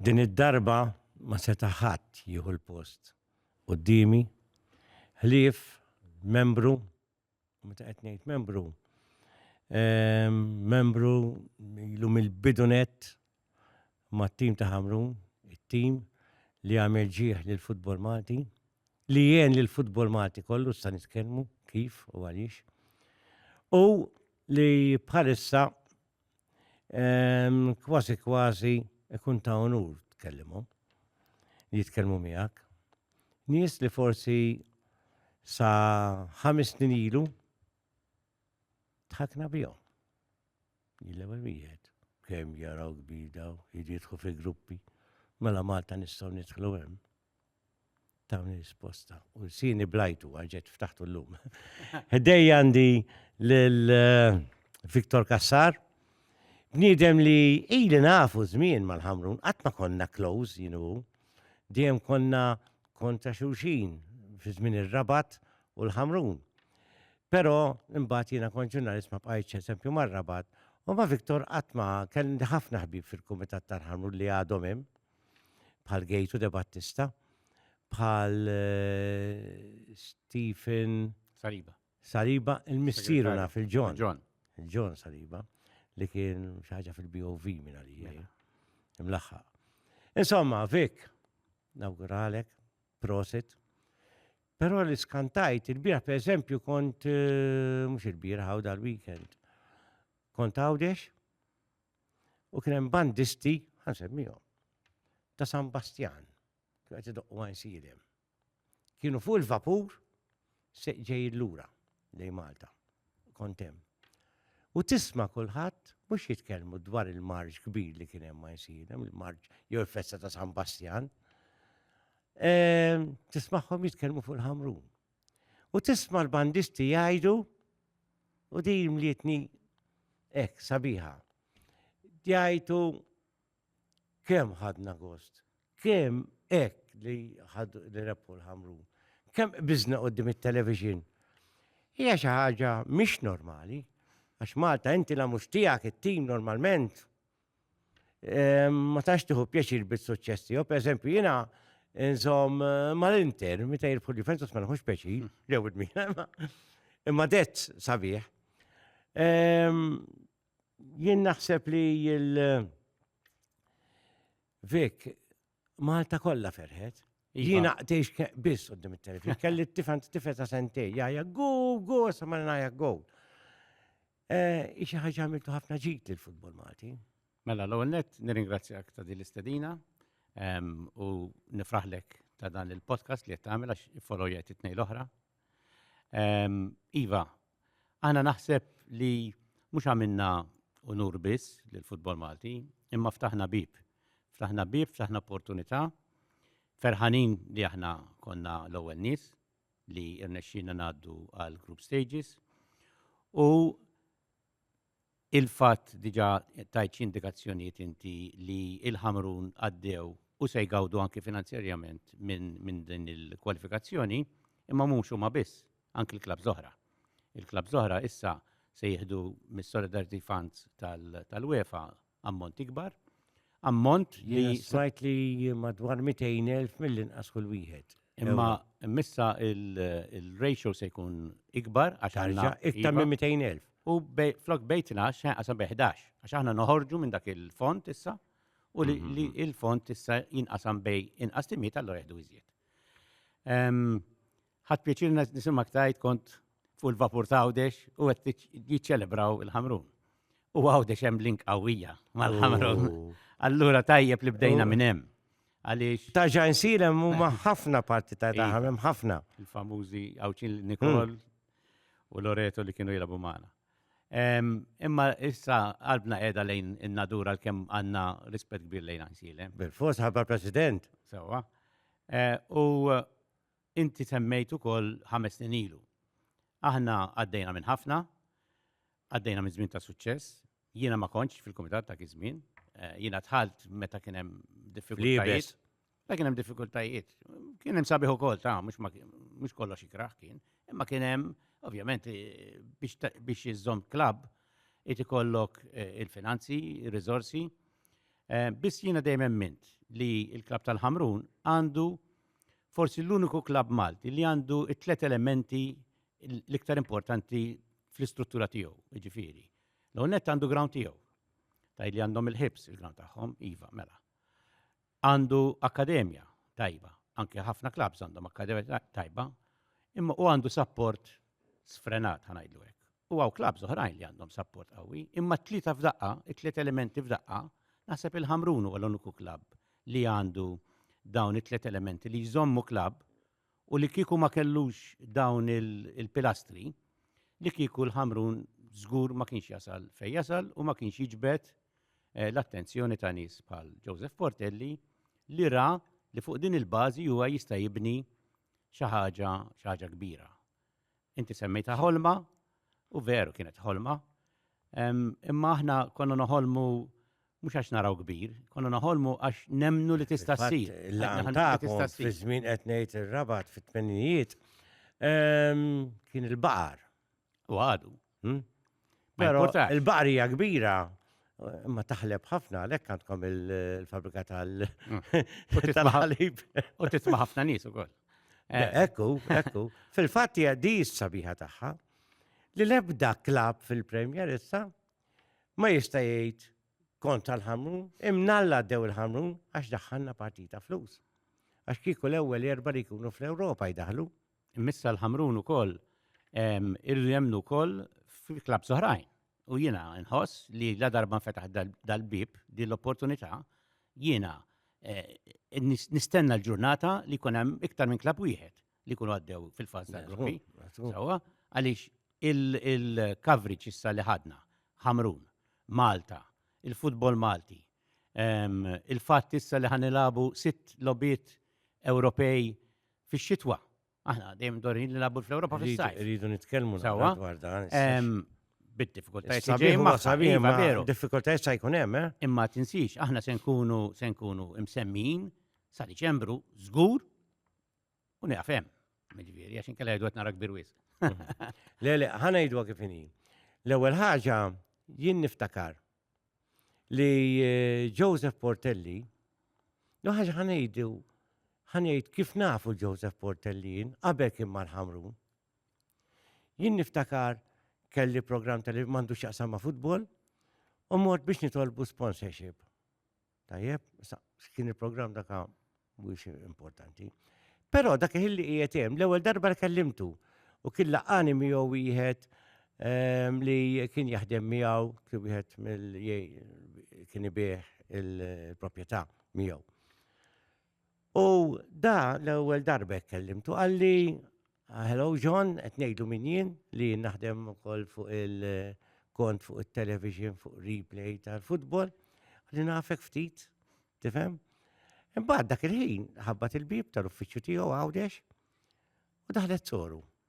Din id-darba ma seta' ħadd jieħu l-post quddiemi ħlief membru, u meta qed ngħid membru, ehm, membru ilu mill-bidunet mat-tim ta' Ħamrun, it-tim li għamel ġieħ lil futbol Malti, li jien lil futbol Malti kollu sa nitkellmu kif u għaliex. U li bħalissa kważi kważi ikun ta' onur tkellimhom li jitkellmu miegħek. Nies li forsi sa ħames snin ilu tħakna bihom. Jillewa wieħed kemm jaraw kbida u jidħu fi gruppi. Mela Malta nistgħu nidħlu hemm. Tawni risposta. U sini blajtu għalġet ftaħtu l-lum. Ħdej għandi l-Viktor eh, Kassar. Bniedem li ili nafu żmien mal-ħamrun, qatt ma konna close, you know. Dejjem konna kontra xulxin fi żmien ir-rabat u l-ħamrun. Pero, imbagħad jiena kont ġurnalist ma bqajtx eżempju mar-rabat, u ma Viktor qatt ma kelli ħafna ħbib fil-Kumitat tal-Ħamrun li għadhom hemm, bħal Gejtu de Battista, bħal eh, Stephen Saliba. Saliba, il-missieru naf il-John. John. Il-John Saliba, li kien xaħġa fil-BOV minn għalija. Mela. Imlaħħa. Insomma, Vik, nawguralek, prosit. Pero li skantajt, il-bira per eżempju kont, eh, mux il-bira għaw dal-weekend, kont għawdex, U kien hemm bandisti, ħansemmihom, ta' San Bastjan, kienu qed idoqqu għajn silem. Kienu fuq il-vapur se ġej lura lej Malta. Kontem. U tisma' kulħadd mhux jitkellmu dwar il-marġ kbir li kien hemm għajn silem, il-marġ jew il-festa ta' San Bastjan. Ehm, tismagħhom jitkellmu fuq il-ħamrun. u tisma' l-bandisti jgħidu u di mlietni hekk sabiħa. Jgħidu kemm ħadna gost, kemm hekk li ħad li rebħu l-ħamru, kemm biżna qudiem it-television. Hija xi ħaġa mhix normali, għax Malta inti la mhux tiegħek it-tim normalment, ma tax tiħu pjaċir bit-suċċess tiegħu. Pereżempju, jiena inżomm eh, mal-Inter, meta jirbħu Juventus ma nħux pjaċir, hmm. lew id-mina, imma det sabiħ. Jien naħseb li il- Vik, Malta kollha ferħet. Iva. Jiena tgħix biss qudiem it-televizjoni. Kelli t-tifan t-tifel ta' sentej, jgħajja go, go, sa ma ngħajja go. Eh, Ixi ħaġa għamiltu ħafna ġid lill futbol Malti. Mela, l-ewwel nett nirringrazzjak ta' din l-istedina ehm, u nifraħlek ta' dan il-podcast li qed tagħmel għax follow jgħid it-tnejn l-oħra Iva, għana naħseb li mux għamilna unur biss l-futbol Malti, imma ftaħna bib. Ftaħna bib, ftaħna opportunità, ferħanin li aħna konna l-ewwel nies li rnexxina ngħaddu għal group stages u Il-fatt, diġà tajt xi indikazzjonijiet inti li l-Ħamrun għaddew u se jgawdu anki finanzjarjament minn din il-kwalifikazzjoni, imma mhux huma biss, anki l-klabbs l-oħra. Il-klabbs l-oħra issa se jieħdu mis-Solidarity Funds tal-UEFA ammont ikbar, ammont li. Sajt li madwar 200.000 mill-inqas kull wieħed. Imma missa il-ratio se jkun ikbar għax għandna iktar minn 200.000. U flok bej 12 għasa bej 11 għax aħna noħorġu minn dak il-font issa u li mhm. il-font issa jinqasam bej inqas timiet allura jieħdu iżjed. Ħadt pjaċir nisimgħek tgħid kont fuq il-vapur ta' Għawdex u qed jiċċelebraw il-Ħamrun. U Għawdex hemm link qawwija mal-Ħamrun. Allura tajjeb li bdejna minn hemm. Għaliex. Ta' ġan silem huma ħafna parti ta' daħam hemm ħafna. Il-famużi Għawċin Nikol u Loreto li kienu jilabu magħna. Imma issa qalbna qiegħda lejn in-natura l-kemm għandna rispett kbir lejn għan silem. Bil-fos ħabba President. Sewa. U Inti semmejt ukoll ħames snin ilu. Aħna għaddejna minn ħafna, għaddejna minn żmien ta' suċċess. Jiena ma kontx fil-kumitat dak iż-żmien. Jiena dħalt meta kien hemm diffikultajiet. Meta kien hemm diffikultajiet. Kien hemm sabiħ ukoll, ta, mhux kollox ikrah kien. Imma kien hemm, ovvjament, biex iżżomm klabb irid ikollok il-finanzi, ir-riżorsi. Biss jiena dejjem emmint li l-klabb tal-Ħamrun għandu forsi l-uniku klabb Malti li għandu t-tlet elementi l-iktar importanti fl-istruttura tiegħu, jiġifieri. L-għonet għandu ground tiegħu. Taj li għandhom il-ħibs il-ground tagħhom, iva, mela. Għandu akkademja tajba, anke ħafna klabbs għandhom akkademja tajba, imma u għandu support sfrenat ħanajdlu hekk. U għaw klabs oħrajn li għandhom sapport qawwi, imma t-tlieta f'daqqa, it-tliet elementi f'daqqa, naħseb il-Ħamrun huwa l-uniku klabb li għandu dawn it-tliet elementi li jżommu klabb u li kieku ma kellux dawn il-pilastri li kieku l-Ħamrun żgur ma kienx jasal fej jasal u ma kienx jiġbed eh, l-attenzjoni ta' nies bħal Joseph Portelli li ra li fuq din il-bażi huwa jista' jibni xi ħaġa xi ħaġa kbira. Inti semmejta ħolma u veru kienet ħolma. Imma aħna konna noħolmu mhux għax naraw kbir, konna noħolmu għax nemnu li tista' ssir. Tista' ssir. Żmien qed ngħid ir-rabat fit-tmenijiet kien il-baqar. U għadu. Hmm? Pero il-baqrija kbira ma taħleb ħafna, lek għandkom il-fabrika tal ħalib U tisma ħafna nis u koll. Eh. Ekku, ekku. Fil-fat hija di sabiħa tagħha li lebda klab fil-Premier issa ma jista' jgħid kont tal-ħamru, imnalla dew il-ħamru għax daħħalna partita flus. Għax kieku l-ewwel erba li jkunu fl-Ewropa jdaħlu, Missa l-ħamrun ukoll irridu jemnu wkoll fil-klab soħrajn. U jiena nħoss li la darba nfetaħ dal-bib din l-opportunità jiena eh, nistenna l-ġurnata li jkun hemm iktar minn klab wieħed li jkunu għaddew fil-fażi tal-gruppi. Sawa, għaliex il-coverage issa li ħadna, Ħamrun, Malta, il-futbol Malti, il-fatt issa li ħanilabu sitt lobiet Ewropej fix-xitwa. Aħna dejjem dorin li nabbu fl-Ewropa fis-sajf. Rridu nitkellmu dwar dan. Bid-diffikultajiet li ġejjin ma' sabiħ ma' veru. Diffikultajiet sa' jkun hemm, eh? Imma tinsix, aħna se nkunu se nkunu imsemmin sa' Diċembru żgur u nieqaf hemm. Miġifieri għax inkella jgħidu qed nara kbir wisq. Le, le, ħanejdu kif inhi. L-ewwel ħaġa jien niftakar li eh, Joseph Portelli, no ħaġa ħanejdu, ħanejt kif nafu Joseph Portelli jien, qabel kien mal-ħamrun. Jien niftakar kelli program tal mandu xaqsam ma' futbol, u mort biex nitolbu sponsorship. Tajjeb, sa, kien il-programm daka mhuwiex importanti. Però dak il-ħilli qiegħed hemm, l-ewwel darba li kellimtu u kien laqani miegħu wieħed ehm, li kien jaħdem miegħu kien wieħed mill kien ibih il-proprjetà miegħu. U da l-ewwel darba kellimtu qalli ah, Hello John, qed ngħidu min jien li naħdem ukoll fuq il-kont fuq it-television fuq replay tal-futbol li nafek ftit, tifhem? Imbagħad dak il-ħin ħabbat il-bib tal-uffiċċju tiegħu għawdex u daħlet soru.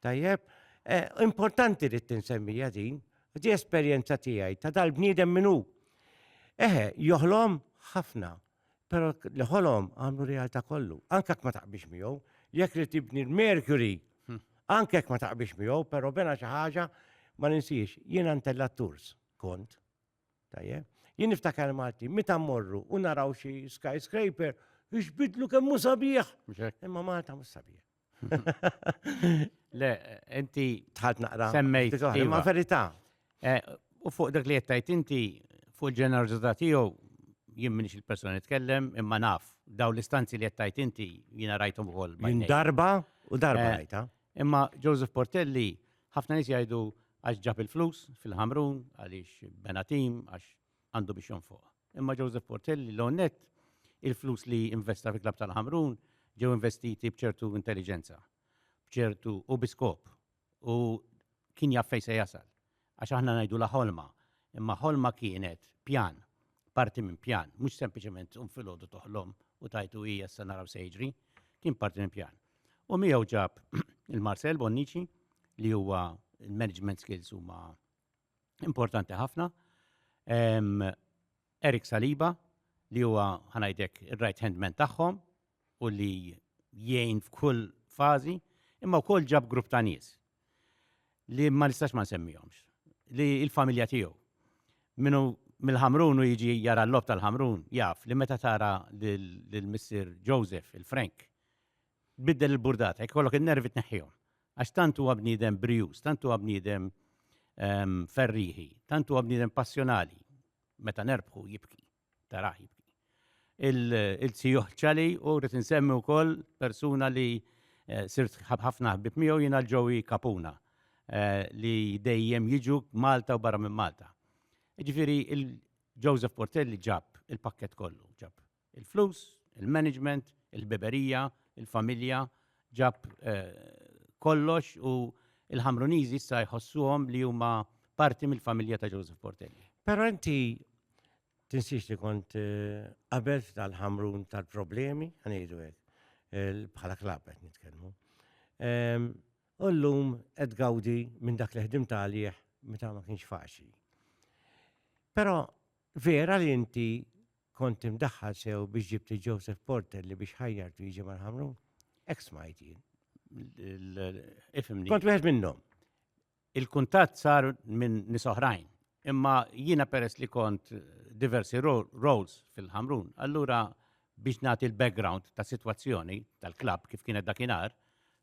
Tajjeb, eh, importanti li tinsemmija din, di esperjenza tiegħi ta' dal-bniedem minnu. Eħe, joħlom ħafna, pero li ħolom għamlu realtà kollu. Anka ma taqbix miegħu, jekk li tibni l-Mercury, hmm. anka ma taqbix miegħu, pero bena xi ħaġa ma ninsiex, jien għantella tours kont. Tajjeb, jien niftakar Malti, meta morru u naraw xi skyscraper, bidlu kemm mhu sabiħ. Imma Malta mhux sabiħ. Le, inti. Tħalt naqra. Semmejt. Ma iva. verità. Eh, u fuq dak li jettajt inti, fuq il-ġenerozità tiegħu, jien minix il-persona nitkellem, imma naf, daw l-istanzi li jettajt inti, jiena rajtom ukoll. Minn darba u darba eh, rajta. Imma Joseph Portelli, ħafna nis jgħidu għax ġab il-flus fil-ħamrun, għaliex benatim, għax għandu biex jonfoqha. Imma Joseph Portelli l nett il-flus li investa fi Klabb tal-Ħamrun ġew investiti b'ċertu intelliġenza, b'ċertu u bi skop. U kien jaf fejn se jasal. Għax aħna ngħidu la ħolma, imma ħolma kienet pjan, parti minn pjan, mhux sempliċement um filgħodu toħlom u tajtu hija sa naraw se jiġri, kien parti minn pjan. U miegħu ġab il-Marcel Bonnici li huwa il-management skills huma importanti ħafna. Erik Saliba li huwa ħanajdek ir-right hand man tagħhom u li jgħin f'kull fażi, imma wkoll ġab grupp ta' nies li ma nistax ma nsemmihomx, li il-familja tiegħu minnu mill-ħamrun u jiġi jara l-lob tal-ħamrun, jaf li meta tara l-missir Joseph, il-Frank, tbiddel il-burdata, jekk ikollok in-nervi tneħħihom. Għax tant huwa bniedem brijuż, tant huwa bniedem ehm, ferriħi, tant huwa bniedem passjonali. Meta nerbħu jibki, taraħ jibki. Il-tijoħ ċali u rrid insemmi wkoll persuna li eh, sirt ħafna ħbib miegħu jiena l-ġowi kapuna eh, li dejjem jiġu Malta u barra minn Malta. Ġifieri il-Joseph Portelli ġab il-pakket kollu, ġab Il-flus, il-management, il-ħbiberija, il-familja, ġab kollox u l-Ħamruniżi issa jħossuhom li huma parti mill-familja ta' Joseph Portelli. Però inti tinsiex li kont qabel tal-Ħamrun tal-problemi, ħanejdu hekk, bħala klab qed nitkellmu. U llum qed gawdi minn dak li ħdim talih meta ma kienx faċli. Però vera li inti Kont imdaħħal sew biex ġibt li Joseph Porter li biex ħajjartu jiġi mal-ħamrun. Ek smajt jien. Ifimni. Kont wieħed minnhom. Il-kuntatt sar minn nisoħrajn. Imma jiena peress li kont diversi roles fil-ħamrun. Allura biex nagħti l-background ta' situazzjoni tal-klab kif kienet dakinhar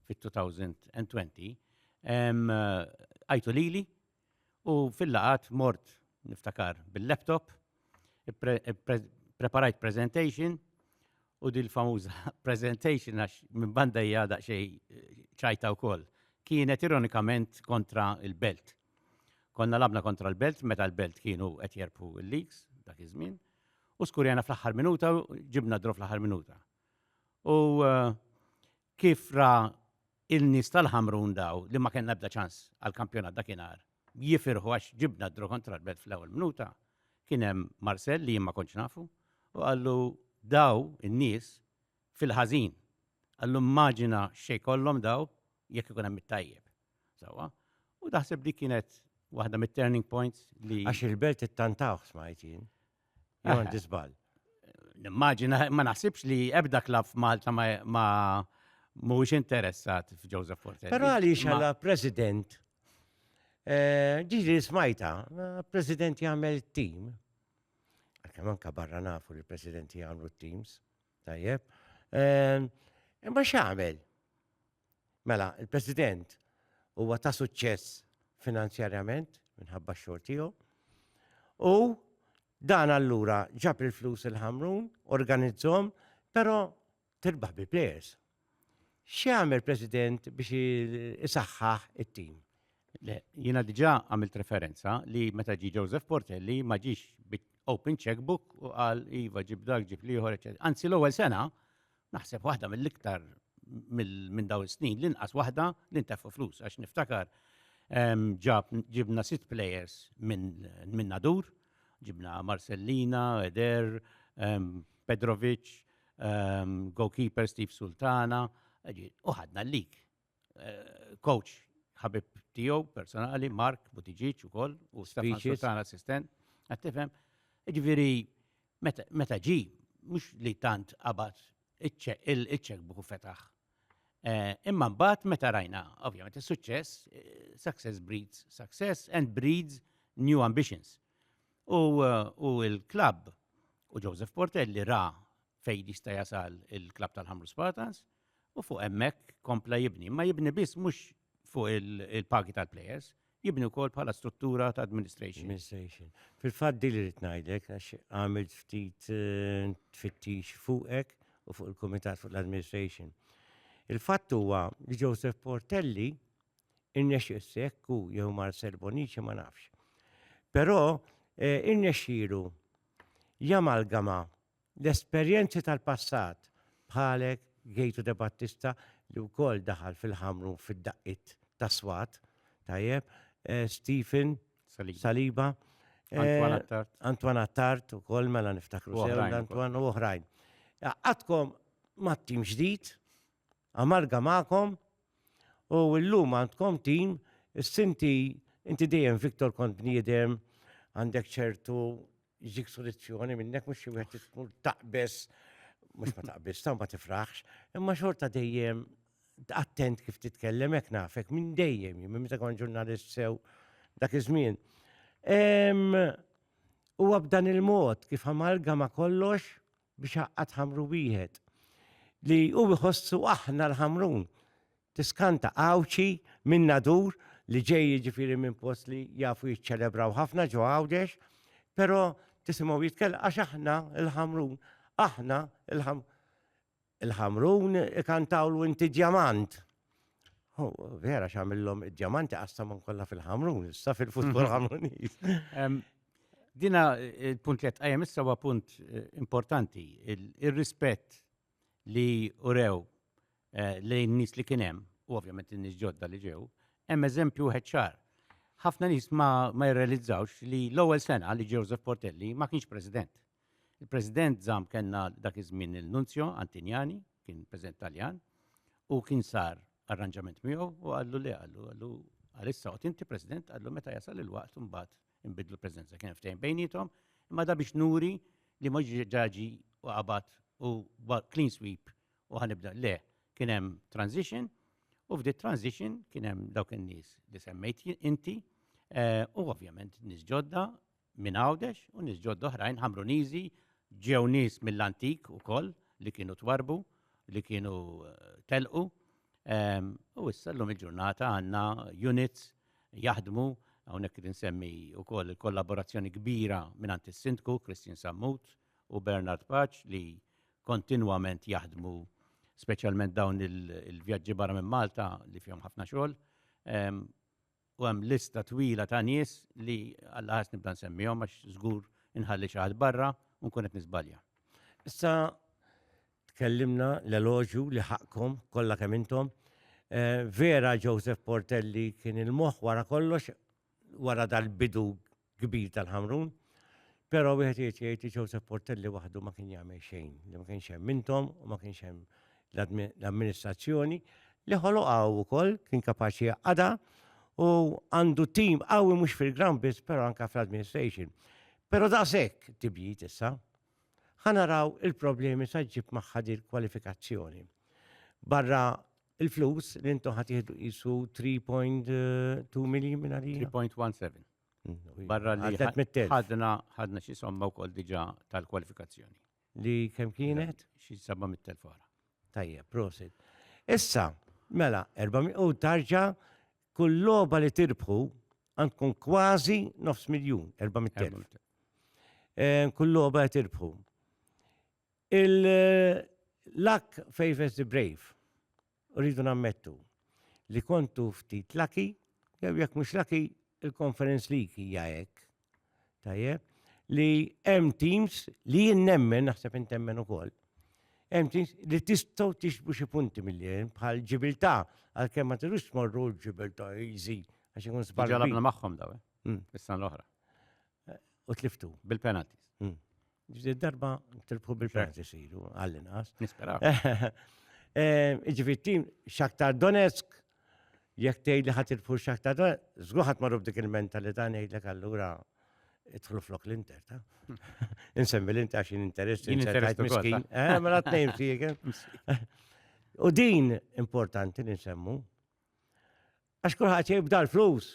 fit-2020, għajtu lili U fil-laqgħat mort niftakar bil-laptop, preparajt presentation u dil famuża presentation għax minn banda hija daqsxejn eh, ċajta wkoll. Kienet ironikament kontra il-belt. Konna labna kontra l-belt meta l-belt kienu qed jerpu l-leaks dak iż-żmien u skurjana fl-aħħar minuta ġibna drof fl-aħħar minuta. U eh, Kif ra il-nies tal-Ħamrun daw li ma kellna ebda ċans għall-kampjonat dakinhar jifirħu għax ġibna d-draw kontra l-Belt fl-ewwel minuta, kien hemm Marcel li jien ma kontx nafu u qallu daw in-nies fil-ħażin. Qallu immaġina x'se jkollhom daw jekk ikun hemm it-tajjeb. Sewwa? U naħseb dik kienet waħda mit-turning points li. Għax il-Belt ittantawh smajt jien. Għandi żball. Nimmaġina, ma naħsibx li ebda klab f'Malta ma mhuwiex interessat f'Joseph Portelli. Però għaliex għala president, eh, ġiġi smajta, eh, president jagħmel tim. Kemm anka barra nafu li president jagħmlu teams, tajjeb. Eh, imma x'għamel? Mela, il-President huwa ta' suċċess finanzjarjament minħabba x-xogħol tiegħu. U dan allura ġab il-flus il-ħamrun, organizzhom, però tirbaħ bi players. X'għamel President biex isaħħaħ it-tim? Jiena diġà għamilt referenza li meta ġi Joseph Portelli ma ġiex open checkbook u qal iva ġib dak ġib liħor, eċetera. Anzi l-ewwel sena Naħseb waħda mill-iktar minn daw is-snin l-inqas waħda li nteffu flus għax niftakar ġab ġibna sitt players minn nadur, ġibna Marcellina, Eder, Pedrovic, goalkeeper Steve Sultana, uħadna l-lik. coach ħabib tiegħu personali, Mark Butiġiċ ukoll u Stefan Sultan assistent. Qed tifhem? Ġifieri meta ġi mhux li tant qabad iċċek buħu fetaħ. Eh, imma mbagħad meta rajna, ovvjament is-suċċess, eh, success breeds success and breeds new ambitions. U eh, l-klabb u Joseph Portelli ra fejn jista' jasal il-klabb tal-Ħamru Spartans, u fuq hemmhekk kompla jibni, imma jibni biss mhux fuq il-pagi tal-plejers, jibni wkoll bħala struttura ta' administration. Administration. Fil-fatt din li rrid ngħidlek għax għamilt ftit eh, tfittix fuqek u fuq il-Kumitat fuq l-Administration. Il-fatt huwa li Joseph Portelli innex sekku jew Marcel Bonici ma nafx. Però eh, irnexxielu jamalgama L-esperjenzi tal-passat, bħalek Gejtu De Battista li wkoll daħal fil-ħamru fid-daqqiet ta' swat, tajjeb, eh, Stephen Saliba, eh, Antwan Attart ukoll mela niftakru sew Antwan u oħrajn. Għadkom mat-tim ġdid, amalga magħkom u llum għandkom tim sinti inti dejjem Viktor kont bniedem għandek ċertu Jġik soluzzjoni minnek mhux xi wieħed tkun taqbes mhux ma taqbis, ta' ma tifraħx, imma xorta dejjem attent kif titkellem hekk nafek minn dejjem, minn meta kon ġurnalist sew dak iż-żmien. Huwa b'dan il-mod kif amalgama kollox biex għaqqad ħamru wieħed li hu jħossu aħna l-ħamrun. Tiskanta Għawdxi minn nadur li ġej jiġifieri minn post li jafu jiċċelebraw ħafna ġo Għawdex, però tisimgħu jitkellem għax aħna l-ħamrun, aħna l-ħamrun ikantawlu inti djamant. Vera xamillom id-diamanti għassamon kolla fil-ħamrun, issa fil-futbol mhm. ħamruniz. Dina il-punt li għajem issa huwa punt eh, importanti, il-rispett li urew eh, lejn nis li kienem, u ovvjament n-nis ġodda li ġew, hemm eżempju ħedċar. ħafna nis ma jirrealizzawx li l-ewwel sena li Joseph Portelli ma kienx president. Il-President żamm kellna dak iż-żmien il-Nunzjo Antinjani, kien President Taljan, u kien sar arranġament miegħu u qallu le qallu qallu għalissa qod inti President qallu meta jasal il-waqt imbagħad inbidlu l-Presidenza kien ftehim bejnietom imma da biex nuri li ma ġaġi u qabad u clean sweep u ħanibda le kien hemm transition u f'di transition kien hemm dawk in-nies li semmejt inti eh, u ovvjament nies ġodda minn Għawdex u nies ġodda oħrajn Ħamruniżi, ġew nies mill-antik ukoll li kienu twarrbu, li kienu telqu. U issa llum il-ġurnata għandna units jaħdmu hawnhekk irid insemmi wkoll il-kollaborazzjoni kbira mingħand is-Sindku Christian Sammut u Bernard Paċ li kontinwament jaħdmu speċjalment dawn il-vjaġġi barra minn Malta li fihom ħafna xogħol. u hemm lista twila ta' nies li alla ħass nibda nsemmihom għax żgur inħalli xi ħadd barra u nkun qed niżbalja. Issa tkellimna l-eloġju li ħaqqkom kollha kemm intom. Eh, vera Joseph Portelli kien il-moħħ wara kollox wara dal-bidu kbir tal-Ħamrun. Però wieħed irid jgħid li Joseph Portelli waħdu ma kien jagħmel xejn, li ma kienx hemm intom u ma kienx hemm l-amministrazzjoni li ħoloqgħu wkoll kien kapaċi jaqada u għandu tim qawwi mhux fil-ground biss però anke fl-administration. Però daqshekk tibjit issa. Ħanaraw il-problemi sa ġib magħha kwalifikazzjoni. Barra Il-flus li intom ħat jihdu jisu 3.2 miljon minn għalija? 3.17. Mm, Barra li ħadna ħadna xi somma wkoll diġà tal-kwalifikazzjoni. Li kemm kienet? Xi 700,000 fara. Tajja, prosit. Issa, mela, 400 u tarġa kull loba li tirbħu għandkun kważi nofs miljun, 400,000. Eh, kull loba li tirbħu. Il-luck favors the brave. U rridu nammettu li kontu ftit lucky, jew jekk mhux lucky, il-Conference League hija hekk. Tajjeb, li hemm teams li jien nemmen, naħseb intemmen ukoll, hemm teams li tistgħu tixbu xi punti mill-li bħal ġibilta, għalkemm ma tirux tmorru ġibilta easy għax ikun sbagħ. Ġalabna magħhom daw, eh? Hmm. Is-sena l-oħra. U tliftu. Bil-penalties. Hmm. Ġdid darba tilbħu bil-penalties ilu, għall-inqas. Nispera. Eh, Ġifi tim Shakhtar Donetsk, jekk tgħid li ħadd tilbħu Shakhtar Donetsk, żgur ħadd marru b'dik il-mentalità ngħidlek allura idħlu flok l-inter, ta? Insemmi l-inter għax interess, interess miskin. Eh, mela t-nejn fik. Eh. U din importanti li nsemmu, għax kulħadd jibda l-flus.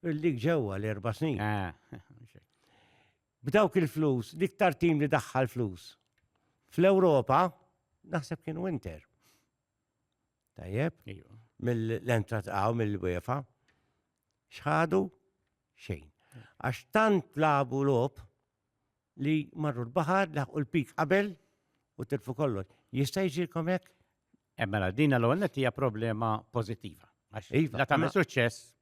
Dik ġewwa l-erba' snin. B'dawk il-flus, l-iktar tim li daħħal flus. Fl-Ewropa, naħseb kien winter. Tajjeb? Mill-entra tqaw mill-UEFA. Xħadu? Xejn. Għax tant labu lob, li marru l-baħar, laħqu l-pik qabel u tilfu kollox. Jista' jiġilkom hekk? Eh, mela, din l-ewwel hija problema pożittiva. Iva, la tagħmel suċċess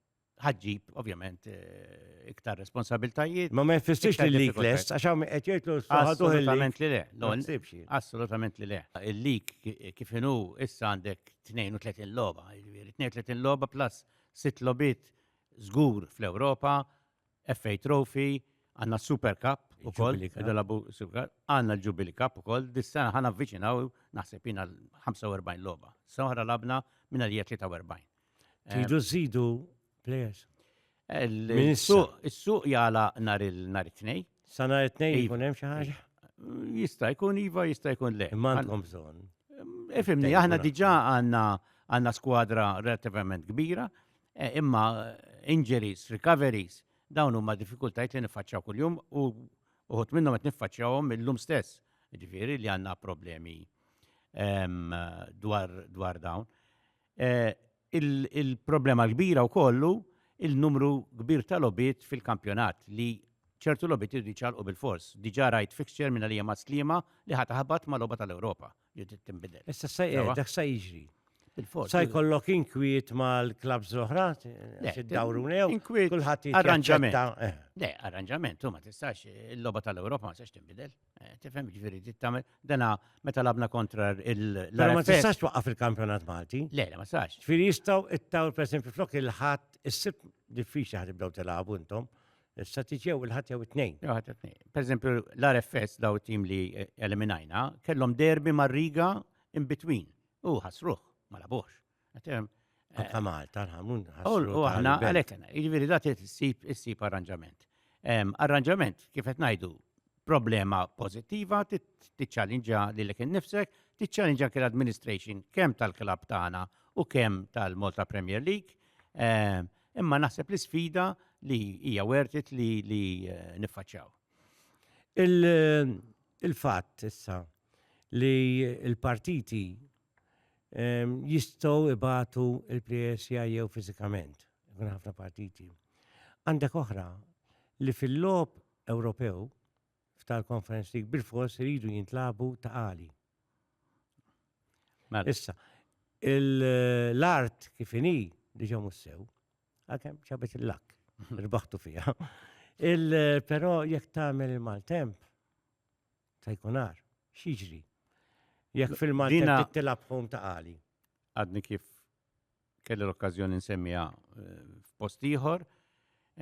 ħadġib, ovvjament, eh, iktar responsabiltajiet. Ma ma jfissirx li l-lik lest, għax għam għetjajtlu Assolutament li le. Assolutament li le. Il-lik kifinu issa għandek 32 loba, 32 loba plus 6 lobit zgur fl-Europa, FA Trophy, għanna Super Cup u koll, id-dalabu Super Cup, għanna l-Jubilee Cup u koll, dis-sena ħana avviċinaw, naħseb jina 45 loba. Sawħra labna minna li 43. Tidu zidu players. Il-suq jala nar il-tnej. Sa nar il-tnej jkun hemm xi ħaġa? Jista' jkun iva, jista' jkun le. Imma għandhom bżonn. Ifimni, aħna diġà għandna għandna skwadra relativament kbira, Eh, imma eh, injuries, recoveries, dawn huma diffikultajt li nifacċaw kuljum u uħut minnhom qed niffaċċawhom illum stess. Ġifieri li għandna problemi ehm, dwar, dwar dawn. Eh, il-problema l-kbira u kollu il-numru kbir tal-obit fil-kampjonat li ċertu lobit irriċalqu bil-fors. Diġa rajt fixture minna li jema slima li ħataħbat ma loba tal-Europa. Judit tinbidel. Issa sa Sewa. dak sa jiġri. Bil-fors. Sa jkollok inkwiet mal-klabs l-oħra, għax id-dawru new, inkwiet, kulħadd jitjaċċetta. arranġament. Eh. Le, arranġament, u ma tistax, il-loba tal-Europa ma tistax tinbidel. Eh, Tifhem ġifieri trid tagħmel dana meta labna kontra il Però ma tistax twaqqaf il-kampjonat Malti. Le, le, ma tistax. Ġifieri jistgħu ittaw pereżempju flok il-ħadd issib diffiċli ħad ibdew tilgħabu intom. Statiġija u l-ħat jew it-tnejn. Jew ħat it-tnejn. Per eżempju, l-RFS daw tim li eh, eliminajna, kellhom derbi mar-riga in between. U ħasruħ, ma labux. Eh, Anka Malta, l-ħamun. U aħna għalekna, jiġifieri da tissib arranġament. Arranġament, kif qed ngħidu, problema pozittiva, tiċċallinġa lilek innifsek, tiċċallinġa kien administration kemm tal-klab tagħna u kemm tal-Malta Premier League. Imma naħseb l-isfida li hija wertit li li eh, niffaċċjaw. Il-fatt il issa li l-partiti ehm, jistgħu ibatu il-PSI jew fiżikament, kun ħafna partiti. Għandek oħra li fil-lob Ewropew f'tal conference league bil-fors iridu jintlabu ta' għali. Mela. Issa, l-art kif inhi diġa mussew, għakem ċabet il-lak, rbaħtu fija. Il-pero jek tagħmel il-maltemp, ta' jkunar, xieġri. Jek fil-maltemp tilab ta' għali. Għadni kif kelli l-okkażjoni nsemmiha eh, f'post ieħor,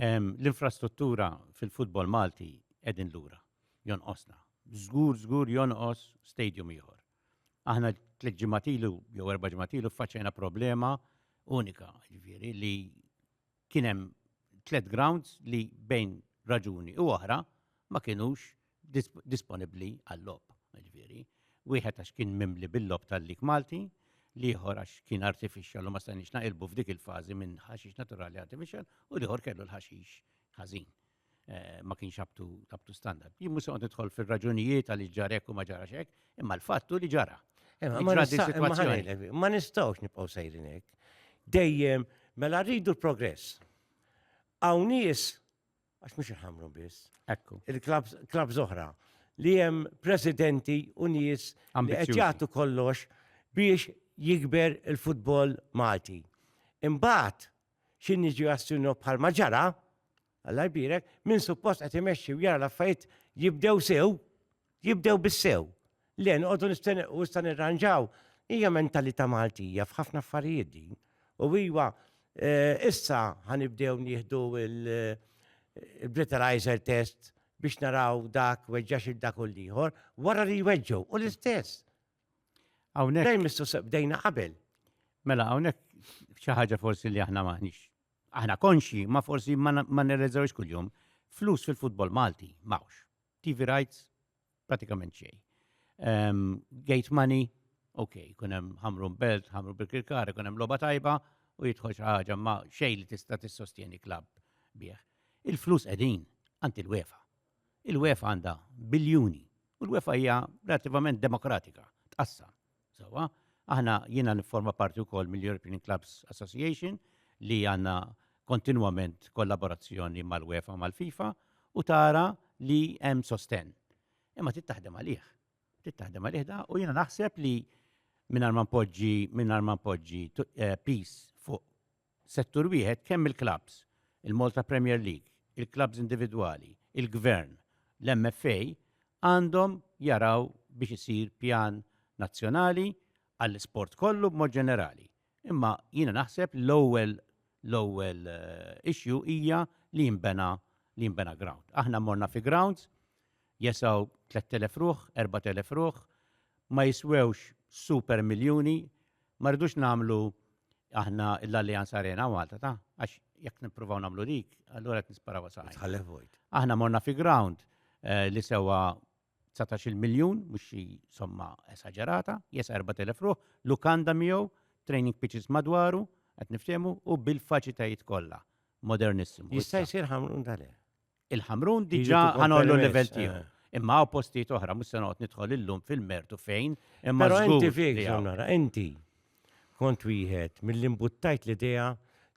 l-infrastruttura fil-futbol Malti qegħdin lura, jonqosna. Żgur, żgur jonqos stadium ieħor. Aħna tliet ġimatilu jew erba' ġimatilu faċċejna problema unika, ġifieri li kien hemm tliet grounds li bejn raġuni u oħra ma kienux disponibbli għal-logħob. Ġifieri, wieħed għax kien mimli bil-logħob tal-lig Malti, l-ieħor għax kien artificial u ma stajniex naqilbu f'dik il-fażi minn ħaxix naturali artificial u l-ieħor kellu l-ħaxix ħażin. Eh, ma kienx up to standard. Jien mhux qed nidħol fir-raġunijiet għaliex ġarek u ma ġarax hekk, imma l-fattu li ġara. Eh, ma nistgħux nibqgħu sejrin hekk. Dejjem mela rridu l-progress. Hawn nies għax mhux iħamru biss. Ekku. Il-klab zoħra li hemm presidenti u nies li qed jagħtu kollox biex jikber il-futbol Malti. Imbagħad xi niġi għas-sinnu bħalma ġara, Alla jbirek, min suppost qed imexxi u jara l-affarijiet jibdew sew, jibdew bis-sew. Le noqogħdu nistenni u issa nirranġaw. Hija mentalità Maltija f'ħafna affarijiet din. U iva eh, issa ħanibdew nieħdu il-breathalyzer eh, test biex naraw dak weġġax il-dak u l-ieħor wara li jweġġu u l-istess. Hawnhekk. Dejjem mistoqsija bdejna qabel. Mela hawnhekk xi ħaġa forsi li aħna maħniex. Aħna konxi, ma forsi ma nirreżawx kuljum. Flus fil-futbol Malti mawx. TV rights pratikament xej. Ehm, gate money, ok, kun hemm ħamru belt, ħamru bil-kirkar, kun hemm logħba tajba u jidħol xi ħaġa ma xej li tista' tissostjeni klabb bih. Il-flus qegħdin għand il-wefa. Il-UEFA għandha biljuni u l-UEFA hija relattivament demokratika, tqassam. Sewwa, aħna jiena nifforma parti wkoll mill-European Clubs Association li għandna kontinwament kollaborazzjoni mal-UEFA mal-FIFA u tara li hemm sostenn. Imma trid taħdem għalih. Trid taħdem għalih da u jiena naħseb li mingħajr ma npoġġi mingħajr ma npoġġi eh, peace Settur wieħed kemm il-klabbs, il-Malta Premier League, il-klabbs individwali, il-Gvern, l-MFA għandhom jaraw biex isir pjan nazzjonali għall-isport kollu b'mod ġenerali. Imma jiena naħseb li l-ewwel l-ewwel issue hija li jinbena li jinbena ground. Aħna morna fi grounds Jesaw 3,000 ruħ, 4,000 ruħ, ma jiswewx super miljuni, ma rridux nagħmlu aħna l-Allianz Arena Malta ta' għax jekk nippruvaw nagħmlu dik, allura qed nisparaw saqaj. Tħallef vojt. Aħna morna fi ground eh, li sewa 19 miljun, mhux xi somma esaġerata, jesa 4,000 ruħ, lukanda miegħu, training pitches madwaru, qed niftehmu u bil-faċitajiet kollha. Modernissimu. Jista' jsir ħamrun tal Il-Ħamrun diġà ħanollu l-level tiegħu. Eh. Imma hawn postijiet oħra mhux se noqgħod nidħol illum fil-mertu fejn imma Però inti fik nara, inti kont wieħed mill-imbuttajt l-idea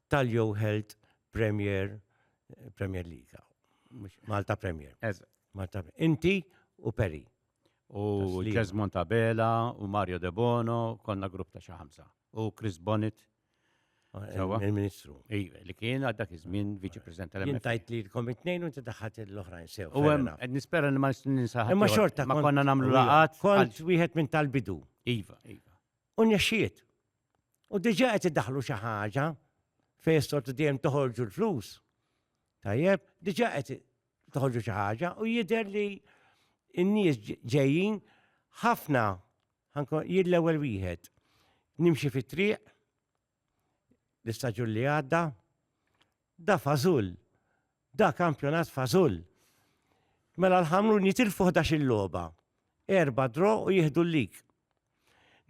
tal-Yo Health Premier Premier League. Malta Premier. Malta Inti u Peri. U Jesmond Tabela, u Mario De Bono, konna grupp ta' xi ħamsa. U Chris Bonnet Sawa. Il-Ministru. Iva, li kien għad dak iż-żmien viċi president tal-MFA. Jintajt li l-kom it-tnejn u inti daħħat l-oħrajn sew. U hemm qed nispera li ma ninsaħ. Imma xorta ma konna nagħmlu laqat. Kont wieħed minn tal-bidu. Iva, iva. U nexxiet. U diġà qed iddaħlu xi ħaġa fejn sortu dejjem toħorġu l-flus. Tajjeb, diġà qed toħorġu xi ħaġa u jidher li n-nies ġejjin ħafna Ħankun jien l-ewwel wieħed. Nimxi fit-triq, l-istaġun li għadda, da fażul, da kampjonat fażul. Mela l-ħamrun jitilfu ħdax il-logħba, erba' dro u jieħdu l-lik.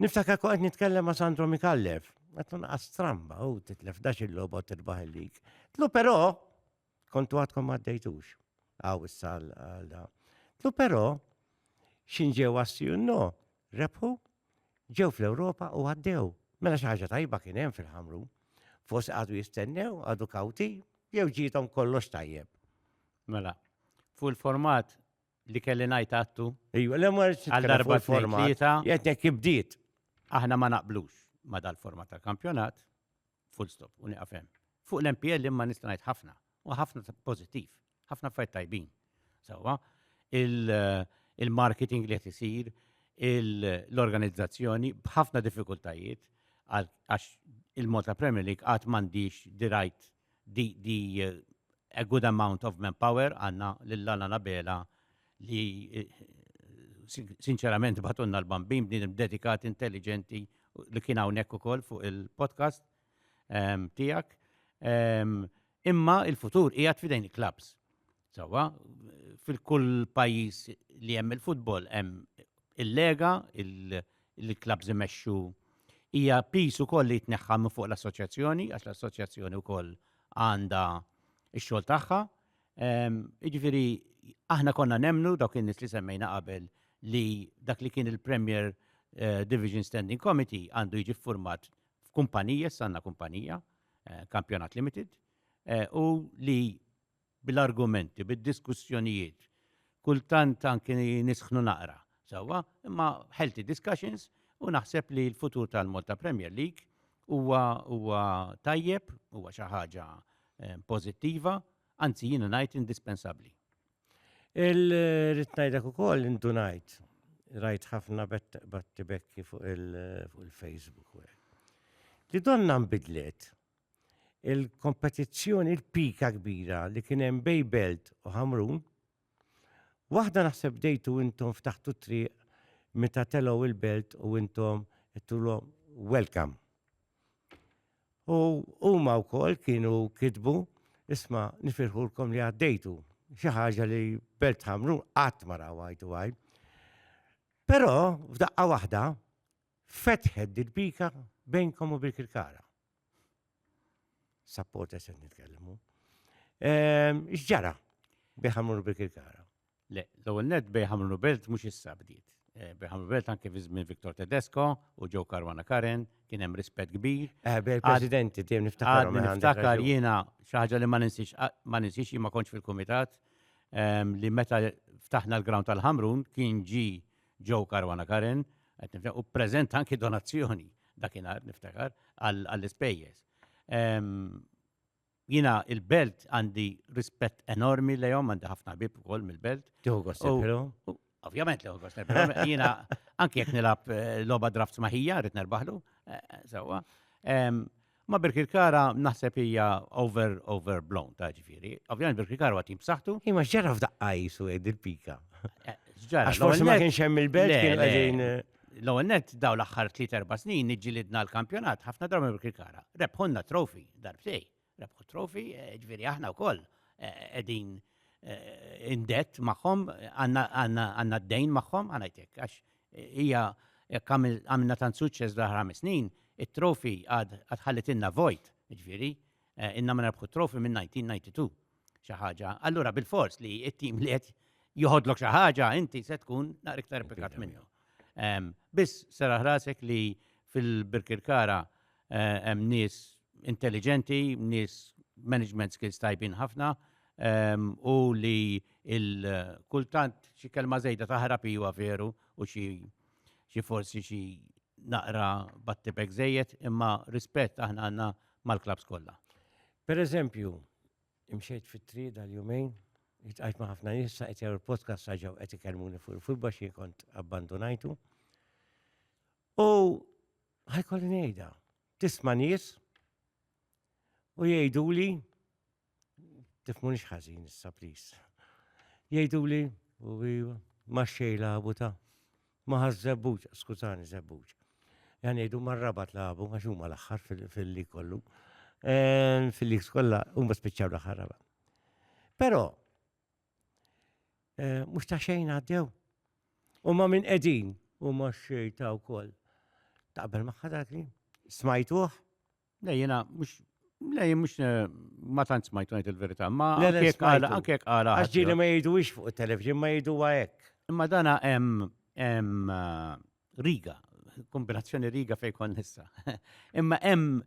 Niftakar kont qed nitkellem ma' Sandro Mikallef, qed tonqas stramba u titlef dax il-logħba u tirbaħ il-lik. Tlu però Kontu għadkom ma għaddejtux. Għaw issa għal da. Tlu però, xin ġew għassi no, rebħu, ġew fl-Ewropa u għaddew. Mela xi ħaġa tajba kien hemm fil-ħamru. Forsi għadu jistennew, għadu kawti, jew ġietom kollox tajjeb. Mela, fuq il-format li kelli ngħid għattu. Ejju, l għal darba format. Jetnek ibdiet. Aħna ma naqblux ma dal-format tal-kampjonat, Full stop, u nieqaf hemm. Fuq l-MPL imma nista' ngħid ħafna, u ħafna pożittiv, ħafna affarijiet tajbin. Sewwa, il-marketing li qed isir, l-organizzazzjoni b'ħafna diffikultajiet għax il-Malta Premier League qatt m'għandix the right the, the a good amount of manpower għandna lil Lana Nabela li sinċerament batunna l-bambin bniedem dedikat, intelligenti, li kien hawnhekk ukoll fuq il-podcast ehm, tiegħek. Ehm, imma il-futur qiegħed fidejn il-klabs. Sawa, fil-kull pajjiż li hemm il-futbol hemm il-lega, il-klabs imexxu hija pis ukoll li jitneħħa minn fuq l-assoċjazzjoni, għax l-assoċjazzjoni wkoll għandha x-xogħol tagħha, Jiġifieri aħna konna nemnu dawk in-nies li semmejna qabel li dak li kien il-Premier eh, Division Standing Committee għandu jiġi format f'kumpanija, sanna kumpanija, eh, Kampjonat Limited, eh, u li bil-argumenti, bil-diskussjonijiet, kultant anki nisħnu naqra, sawa, imma healthy discussions u naħseb li l-futur tal-Malta Premier League huwa huwa tajjeb, huwa xi ħaġa eh, pożittiva, anzi jiena ngħid indispensabbli. Il-rit ngħidlek ukoll indunajt rajt ħafna batti bekki fuq il-Facebook. Li donna nbidlet il-kompetizzjoni il-pika kbira li kien hemm bej belt u ħamrun Waħda naħseb bdejtu intom ftaħtu t-triq meta telgħu il-belt u intom għedtulhom welcome. U huma wkoll kienu kitbu isma' nifirħulkom li għaddejtu xi ħaġa li belt ħamru qatt ma raw għajtu għaj. Però f'daqqa waħda fetħed dil-bika bejnkom u bil-kirkara. Sapport qed nitkellmu. Ehm, x'ġara biħamru bil kara Le, l-ewwel net biħamru belt mhux issa bdiet. Eh, biħamru belt anke fi żmien Viktor Tedesco u ġew Karwana Karen kien hemm rispett kbir. Eh, Presidenti dejjem niftakar. Niftakar jiena xi ħaġa li ma ninsix ma ninsix ma kontx fil-kumitat ehm, li meta ftaħna l-ground tal-Ħamrun kien ġi Joe Caruana Karen, qed nifhem, u preżenta anki donazzjoni dakinhar niftakar għall-ispejjeż. Jina il-belt għandi rispett enormi lejhom għandi ħafna bib ukoll mill-belt. Tieħu gost Ovvjament li gost Jina anki jekk nilab eh, logħba draft maħija rrid nerbaħlu eh, eh, sewwa. Ma Birkirkara naħseb hija over over blown ta' ġifieri. Ovvjament Birkirkara huwa tim b'saħħtu. Hi ma x'ġara f'daqqa jisu għid il-pika. Eh, x'ġara? Għax forsi ma kienx hemm il-belt kien qegħdin. Eh. L-ewwel nett daw l-aħħar 3-4 snin niġġilidna l-kampjonat ħafna drabi Birkirkara. Rebħonna trofi darbtej. Rebħu trofi eh, ġifieri aħna wkoll qegħdin indett magħhom għandna d-dejn magħhom għanajtek għax Hija jekk għamilna tant suċċess fl-aħħar ħames snin, it-trophy għad ħallitilna vojt, jiġifieri ilna ma nerbħu t-trophy minn 1992 xi ħaġa. Allura bilfors li t-tim li qed joħodlok xi ħaġa inti se tkun naqra iktar pikat minnu. Biss sera ħrasek li fil-Birkirkara hemm nies intelliġenti, nies management skills tajbin ħafna, u li kultant xi kelma żejda taħrab iwa veru u xi xi forsi xi naqra battibek żejjed imma rispett aħna għandna mal-klabs kollha. Per eżempju, imxejt fit-triq dal-jumejn, jitqajt ma' ħafna nies sa' qed jaraw il-podcast saġaw qed ikellmuni fuq il-futbol xi kont abbandunajtu. U ħajkolli ngħidha, tisma' nies u jgħiduli Tifmunix ħażin issa plis. Jgħiduli u ma xej labu ta' ma ħaż żebbuġ, skużani żebbuġ. Jan jgħidu ma rabat labu għax huma l-aħħar fil-li kollu. Ehm, Fil-li kollha huma spiċċaw l-aħħar raba. Però eh, mhux ta' xejn għaddew. U ma minn qegħdin u ma xejta wkoll. Taqbel magħha dak li smajtuh Le jiena mhux Le jien mhux eh, ma tant smajtu ngħid il-verità, ma Le, le, anke jekk għala smajtu. anke jekk għala Għax ġieli ħadd- ma jgħiduwix fuq it-television, ma jgħiduha hekk. Imma dana hemm hemm eh, riga, kombinazzjoni riga fejn kont nista. Imma hemm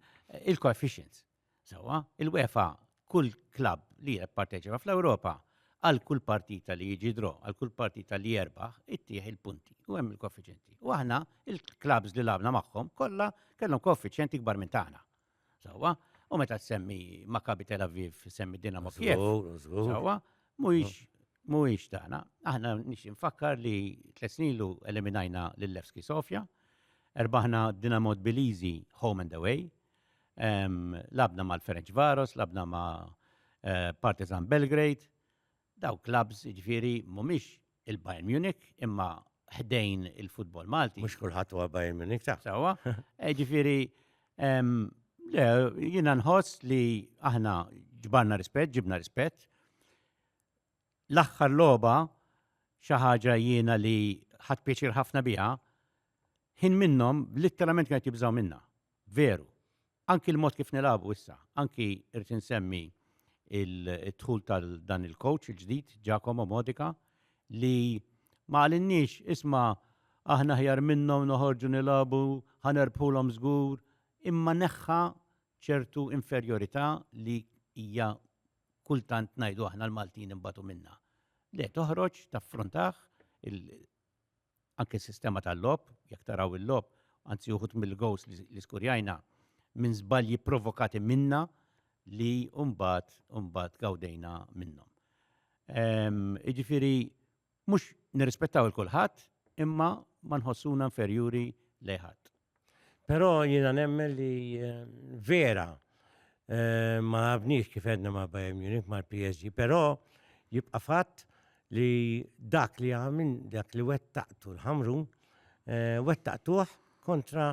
il-coefficients. Sewwa, il-UEFA kull klabb li jipparteċipa fl-Ewropa għal kull partita li jiġi draw, għal kull partita li jerbaħ, ittieħ il-punti u hemm il-koeffiċjenti. U aħna il-klabbs li labna magħhom kollha kellhom koeffiċjenti kbar minn tagħna. Sewwa, u meta tsemmi Maccabi Tel Aviv, semmi Dinamo Kiev. Sewwa, mhuwiex mhuwiex tagħna. Aħna nix infakkar li tliet snilu eliminajna lil Levski Sofja, erbaħna Dinamo Tbiliżi home and away, Labna mal-Ferencvaros, labna ma' eh, Partizan Belgrade, daw klabs ġifiri mumiex il-Bayern Munich imma ħdejn il-futbol Malti. Mux kullħat huwa Bayern Munich ta' Sawa, eh, ġifiri jina nħoss li aħna ġbarna rispett, ġibna rispett, L-aħħar logħba, xi ħaġa jiena li ħadt pjaċir ħafna biha, ħin minnhom litteralment kienet jibżgħu minnha. Veru. Anki l-mod kif nilagħbu issa, anki rrid insemmi il-dħul tal dan il-coach il-ġdid, Giacomo Modica, li ma għalinniex isma' aħna ħjar minnhom noħorġu nilagħbu, ħanerbħulhom żgur, imma neħħa ċertu inferjorità li hija kultant ngħidu aħna l-Maltin ninbatu minnha. Le, toħroġ taffrontah anke s-sistema tal-lob, jekk taraw il-lob, anzi uħut mill-gows li skurjajna minn żbalji provokati minna li umbat, umbat gawdejna minnhom. Iġifiri, Mhux nirrispettaw 'il kulħadd imma ma nħossuna inferjuri lejn ħadd. Però jiena nemmen li vera ma lagħabniex kif għedna ma' Bayern Munich mal-PSG, però jibqa' fatt li dak li għamil dak li wettaqtu l-Ħamrun wettaqtuh kontra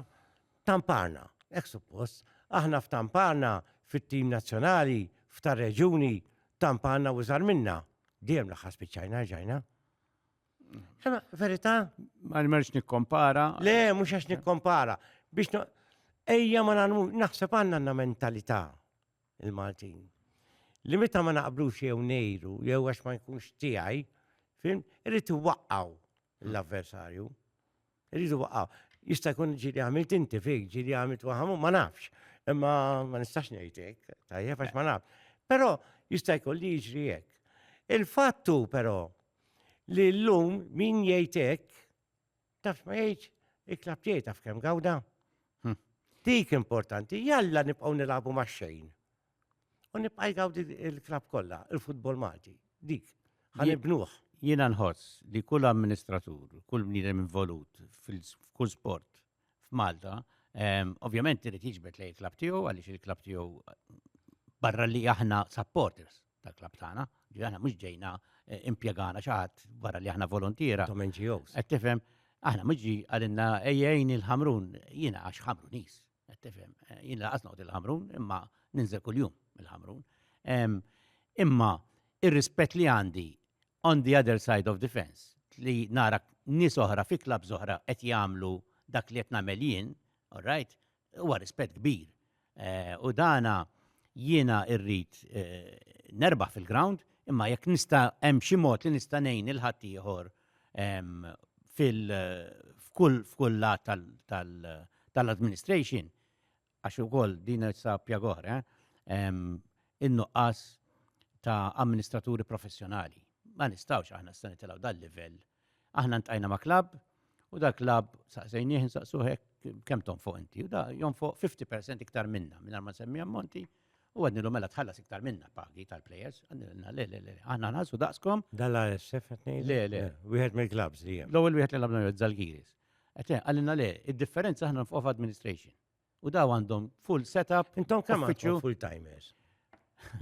Tamparna, hekk suppost. Aħna f'Tamparna, fit-tim nazzjonali, f'tar-reġjuni, Tamparna u żgħar minna. Dejjem l-aħħar spiċċajna rġajna. Sema, verità? Ma nimerx nikkompara. Le, mhux għax nikkompara. Biex ejja ma nagħmlu, naħseb għandna għandna mentalità il-Maltin. Li meta ma naqblux jew nejru, jew għax ma jkunx tiegħi, fim, irrid iwaqqgħu. l-avversarju. Irridu waqqa. Jista' jkun ġili għamilt inti fik, ġili għamilt waħamu, ma nafx. Imma ma nistax ngħidlek, tajjeb għax ma naf. Però jista' jkun li jiġri hekk. Il-fattu però li llum min jgħid hekk tafx ma jgħidx iklab tiegħi taf kemm gawda. Hm. Dik importanti, jalla nibqgħu nilagħbu max-xejn. U nibqa' jgawdi il-klab kollha, il-futbol Malti, dik. Ħanibnuh. Jiena nħoss li kull amministratur, kull bniedem involut f'kull sport f'Malta, ehm, ovvjament irid jiġbed lej il-klab tiegħu għaliex il-klab tiegħu barra li aħna supporters tal-klab tagħna, li aħna mhux ġejna eh, impjegana xaħat barra li aħna volontiera. Tom NGOs. Qed tifhem, aħna mhux ġi għalinna ejjejn il-ħamrun, jiena għax ħamrunis, Qed tifhem, jien laqas noqgħod il-Ħamrun, imma ninżel kuljum il-Ħamrun. Imma ir-rispett li għandi on the other side of the fence li nara nies oħra fi klab oħra qed jagħmlu dak li qed nagħmel jien, all right, huwa rispett kbir. Eh, u dana jiena irrid eh, nerbaħ fil-ground, imma jekk nista' hemm xi mod li nista' ngħin il-ħaddieħor f'kull lat tal-administration, għax ukoll din issa pjaga oħra, in-nuqqas ta' amministraturi professjonali. Ma nistgħux aħna issa nitilgħu dal-livell. Aħna ntqajna ma' klabb u dak klabb saqsejnieh insaqsuh hekk kemm tonfoq inti u da jonfoq 50% iktar minna mingħajr ma nsemmi ammonti, U għednilu mela tħallas iktar minna pagi tal-players. Għednilna, le, le, le, għanna nħassu daqskom. Dalla SF għetni? Le, le. Wieħed mill klabs li jem. L-ewel wieħed li labna jod Zalgiris. Għetni, għallina le, il-differenza għanna nfuq administration. U daw għandhom full setup. Intom kam għandhom full timers?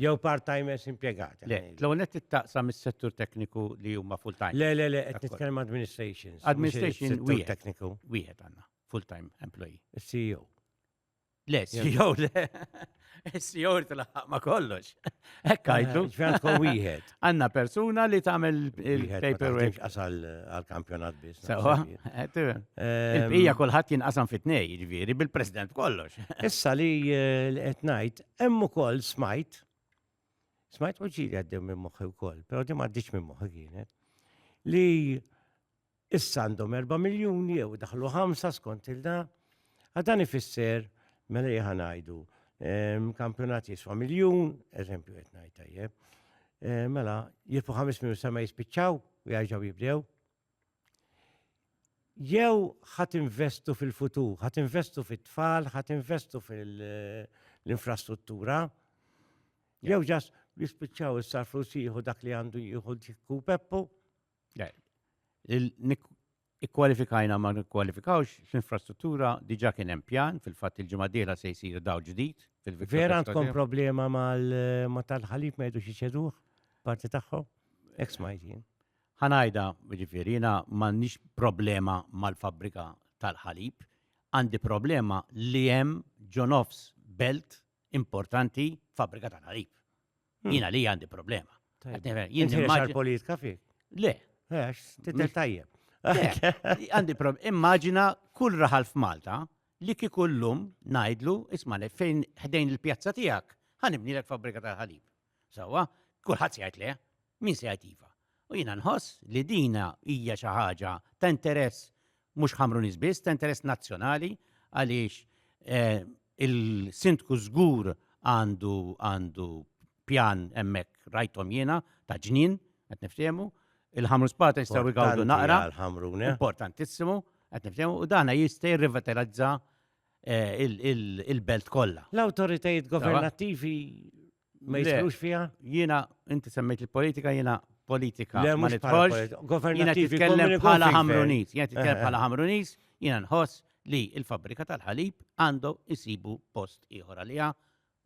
Jew part timers impiegati. Le, l-ewel net taqsam mis settur tekniku li huma full time. Le, le, le, għetni tkellem administration. Administration wieħed. Tekniku. Wieħed għanna, full time employee. CEO. Le, CEO le. CEO tlaħħaq ma kollox. Hekk għajdu. Ġventko wieħed. Għanna persuna li tagħmel il-paperwork. Qasal għal-kampjonat biss. Sewa. Il-bqija kulħadd jinqasam fit-tnej, jiġifieri bil-president kollox. Issa li qed ngħid, hemm ukoll smajt, smajt u ġiri għaddew minn moħħi wkoll, però di m'għaddix minn moħħi kienet, li Issa għandhom 4 miljun jew daħlu 5 skont il-da. Għadan ifisser, mela jħa ngħidu, ehm, kampjonat jiswa miljun, eżempju qed ngħid tajjeb, ehm, mela jirfu 5 miljun sa ma jispiċċaw u jgħajġaw jibdew. Jew ħat investu fil-futur, ħat investu fit-tfal, ħat investu fil-infrastruttura, jew ġas jispiċċaw is-sarflu siħu dak li għandu jieħu dik peppu. Ikkwalifikajna ma nikkwalifikawx l-infrastruttura diġa kien hemm pjan fil-fatt il-ġimgħa dieħla se jsir daw ġdid fil-viċċa. Vera għandkom problema ma tal-ħalib ma jgħidux iċeduh parti tagħhom? Ek smajt jien. Ħanajda, ġifieri, jiena m'għandix problema mal-fabbrika tal-ħalib, għandi problema li hemm ġonofs belt importanti fabbrika tal-ħalib. Hmm. Jina li għandi problema. Jien għal politika fi? Le. Għax, titel tajjeb. Għandi problema. Immaġina kull raħal f'Malta li kikullum najdlu, isma li fejn ħdejn il-pjazza tijak, ħanibni l fabrika tal-ħalib. Sawa, kullħat sejt le, min sejt iva. U jina nħoss li dina hija xi ħaġa ta' interess mhux Ħamruniż biss, ta' interess nazzjonali għaliex eh, il-sindku żgur għandu għandu pjan hemmhekk rajthom jiena ta' ġnien qed niftehmu. Il-ħamru spata jistgħu jgawdu naqra. Għal-ħamrune. Importantissimu, qed niftehmu, u dana jista' jirrivitalizza eh, il- il- il-belt kollha. L-autoritajiet governattivi Ma jiskrux fija? Jiena, inti semmejt il-politika, jiena politika. Le, ma nitħolx. Jiena titkellem bħala ħamrunis. Jiena titkellem bħala ħamrunis, jiena nħoss li il-fabrika tal-ħalib għandu jisibu post ieħor għalija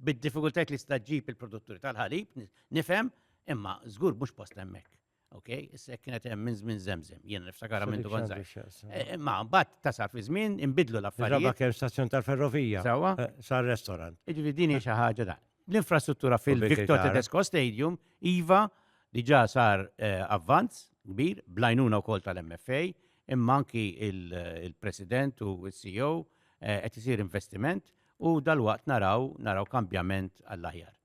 bid-diffikultajt li staġġib il-produtturi tal-ħalib, nifhem, imma żgur mhux post hemmhekk. Ok, issa kienet hemm minn żmien żemżem, jiena niftakara minn dwar żgħir. Ma mbagħad tasal fi żmien inbidlu l-affarijiet. Raba kemm stazzjon tal-ferrovija. Sawa. Eh, sar restaurant. Iġifieri din hi xi ħaġa da. L-infrastruttura fil-Victor Tedesco Stadium iva diġà sar eh, avvanz kbir blajnuna wkoll tal-MFA imma anki il-President u s-CEO eh, qed isir investiment u dal-waqt naraw naraw kambjament għall-aħjar.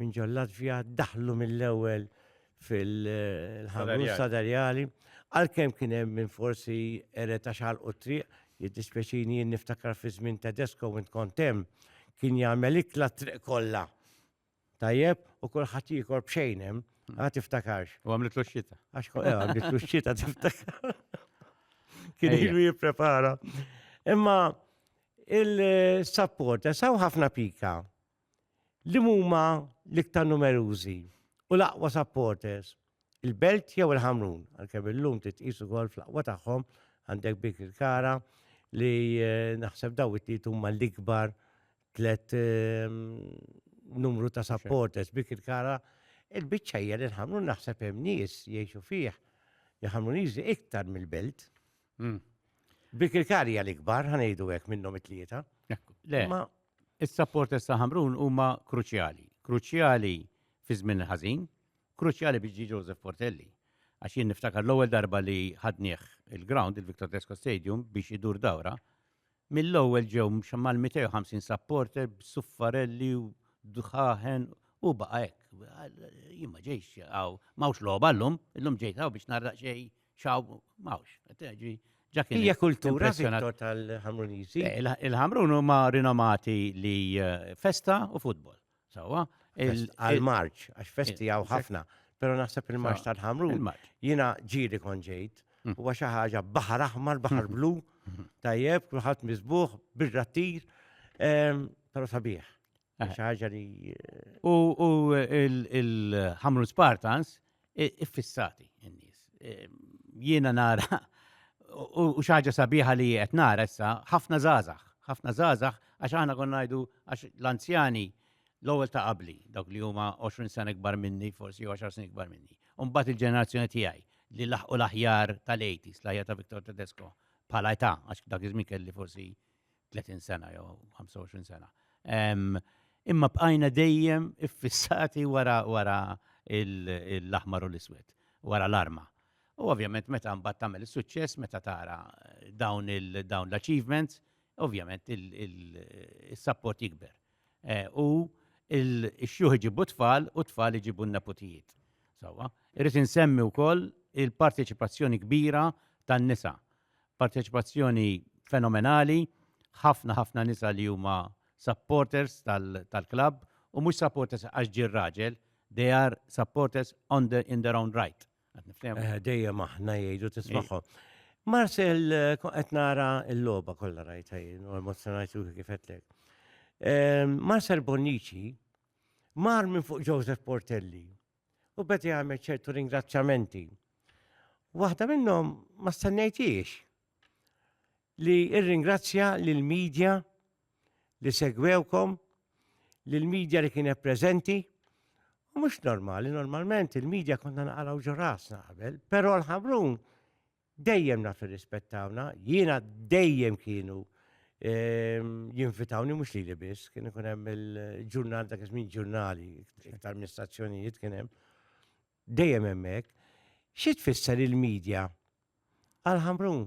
minn ġol-Latvja daħlu mill-ewwel fil-ħamus sadarjali, għalkemm kien hemm minn forsi eret għax ħalqu t-triq, jiddispjaċini jien niftakar fi żmien Tedesco minn kont hemm, kien jagħmel ikla t-triq kollha. Tajjeb, u kulħadd jiekol b'xejn hemm, hmm. għad tiftakarx. U għamlitlu x-xita. Għax eh, għamlitlu x-xita tiftakar. Kien ilu jipprepara. Imma il-support, saw ħafna pika. Li huma l-iktar numerużi u l-aqwa supporters? Il-Belt jew il-Ħamrun? Għalkemm illum titqis ukoll fl-aqwa tagħhom għandek Bik il-Kara li eh, naħseb daw it-tliet huma l-ikbar tlet ehm, numru ta' supporters Bik il-Kara il-biċċa hija li l-Ħamrun naħseb hemm nies jgħixu fih li Ħamruniżi iktar mill-Belt. Hmm. Bikirkari għal ikbar, ħanejdu għek minnom it-tlieta. Le, ma il-sapport issa ħamrun huma kruċjali. Kruċjali fi żmien ħażin, kruċjali biex ġi Joseph Portelli. Għax jien niftakar l-ewwel darba li ħadnieh il-ground, il-Victor Tesco Stadium, biex idur dawra, Mill-ewwel ġew mal-250 supporter b'suffarelli u dħaħen u baqa' hekk. Jien ma ġejx hawn, m'hawnx logħba llum, illum ġejt hawn biex narraq xejn xaw m'hawnx. Hija kultura Victor tal-Ħamruniżi. Eh, Il-Ħamrun huma rinomati li eh, festa u futbol. Sawa, għal-Marċ, għax festi għaw ħafna, pero naħseb il-Marċ tal-ħamru, jina ġiri konġejt, mm. u għaxa ħaġa bahar aħmar, bahar mm-hmm. blu, mm-hmm. tajjeb, kullħat mizbuħ, birra tir, pero sabiħ. Eh. ħaġa li. U il-ħamru Spartans, iffissati n-nies. Jiena nara u xaġa sabiħa li qed nara issa ħafna żgħażagħ, ħafna żgħażagħ għax aħna konna ngħidu għax l-anzjani l-ewwel ta' qabli, dawk li huma 20 sena ikbar minni, forsi 10 snin ikbar minni. Mbagħad il-ġenerazzjoni tiegħi li laħqu l-aħjar tal-80s, l-aħjar ta' Victor Tedesco bħala età, għax dak iż-żmien kelli forsi 30 sena jew 25 sena. Imma bqajna dejjem iffissati wara wara l-aħmar u l-iswed, wara l-arma. U ovvjament meta mbagħad tagħmel is-suċċess meta tara dawn dawn l-achievements, ovvjament il-sapport jikber. Eh, u il-xjuħ iġibu tfal u tfal iġibu n-neputijiet. Sawa, irrid insemmi wkoll il-parteċipazzjoni kbira tan-nisa Parteċipazzjoni fenomenali, ħafna ħafna nisa li huma supporters tal-klabb u mhux supporters għax ġie r-raġel, they are supporters on the, in their own right. Eh, dejjem aħna jgħidu tismagħhom. Marcel, eh, qed nara l-logħba kollha rajta jien u emozjonajt ruħi kif qedlek. Eh, Marcel Bonnici mar minn fuq Joseph Portelli U beda jagħmel ċertu ringrazzjamenti. Waħda minnhom ma stennejtiex li irringrazzja lill media li segwewkom, lill media li kienet preżenti. U mhux normali, normalment il-medja konna naqraw ġo rasna qabel, però l-ħamrun Dejjem naf irrispettawna, jiena dejjem kienu ehm, jinvitawni mhux lili biss, kien ikun hemm il-ġurnal dak iż-żmien ġurnali, iktar minn stazzjonijiet kien hemm. Dejjem hemmhekk. Xi tfisser il-medja għal Ħamrun?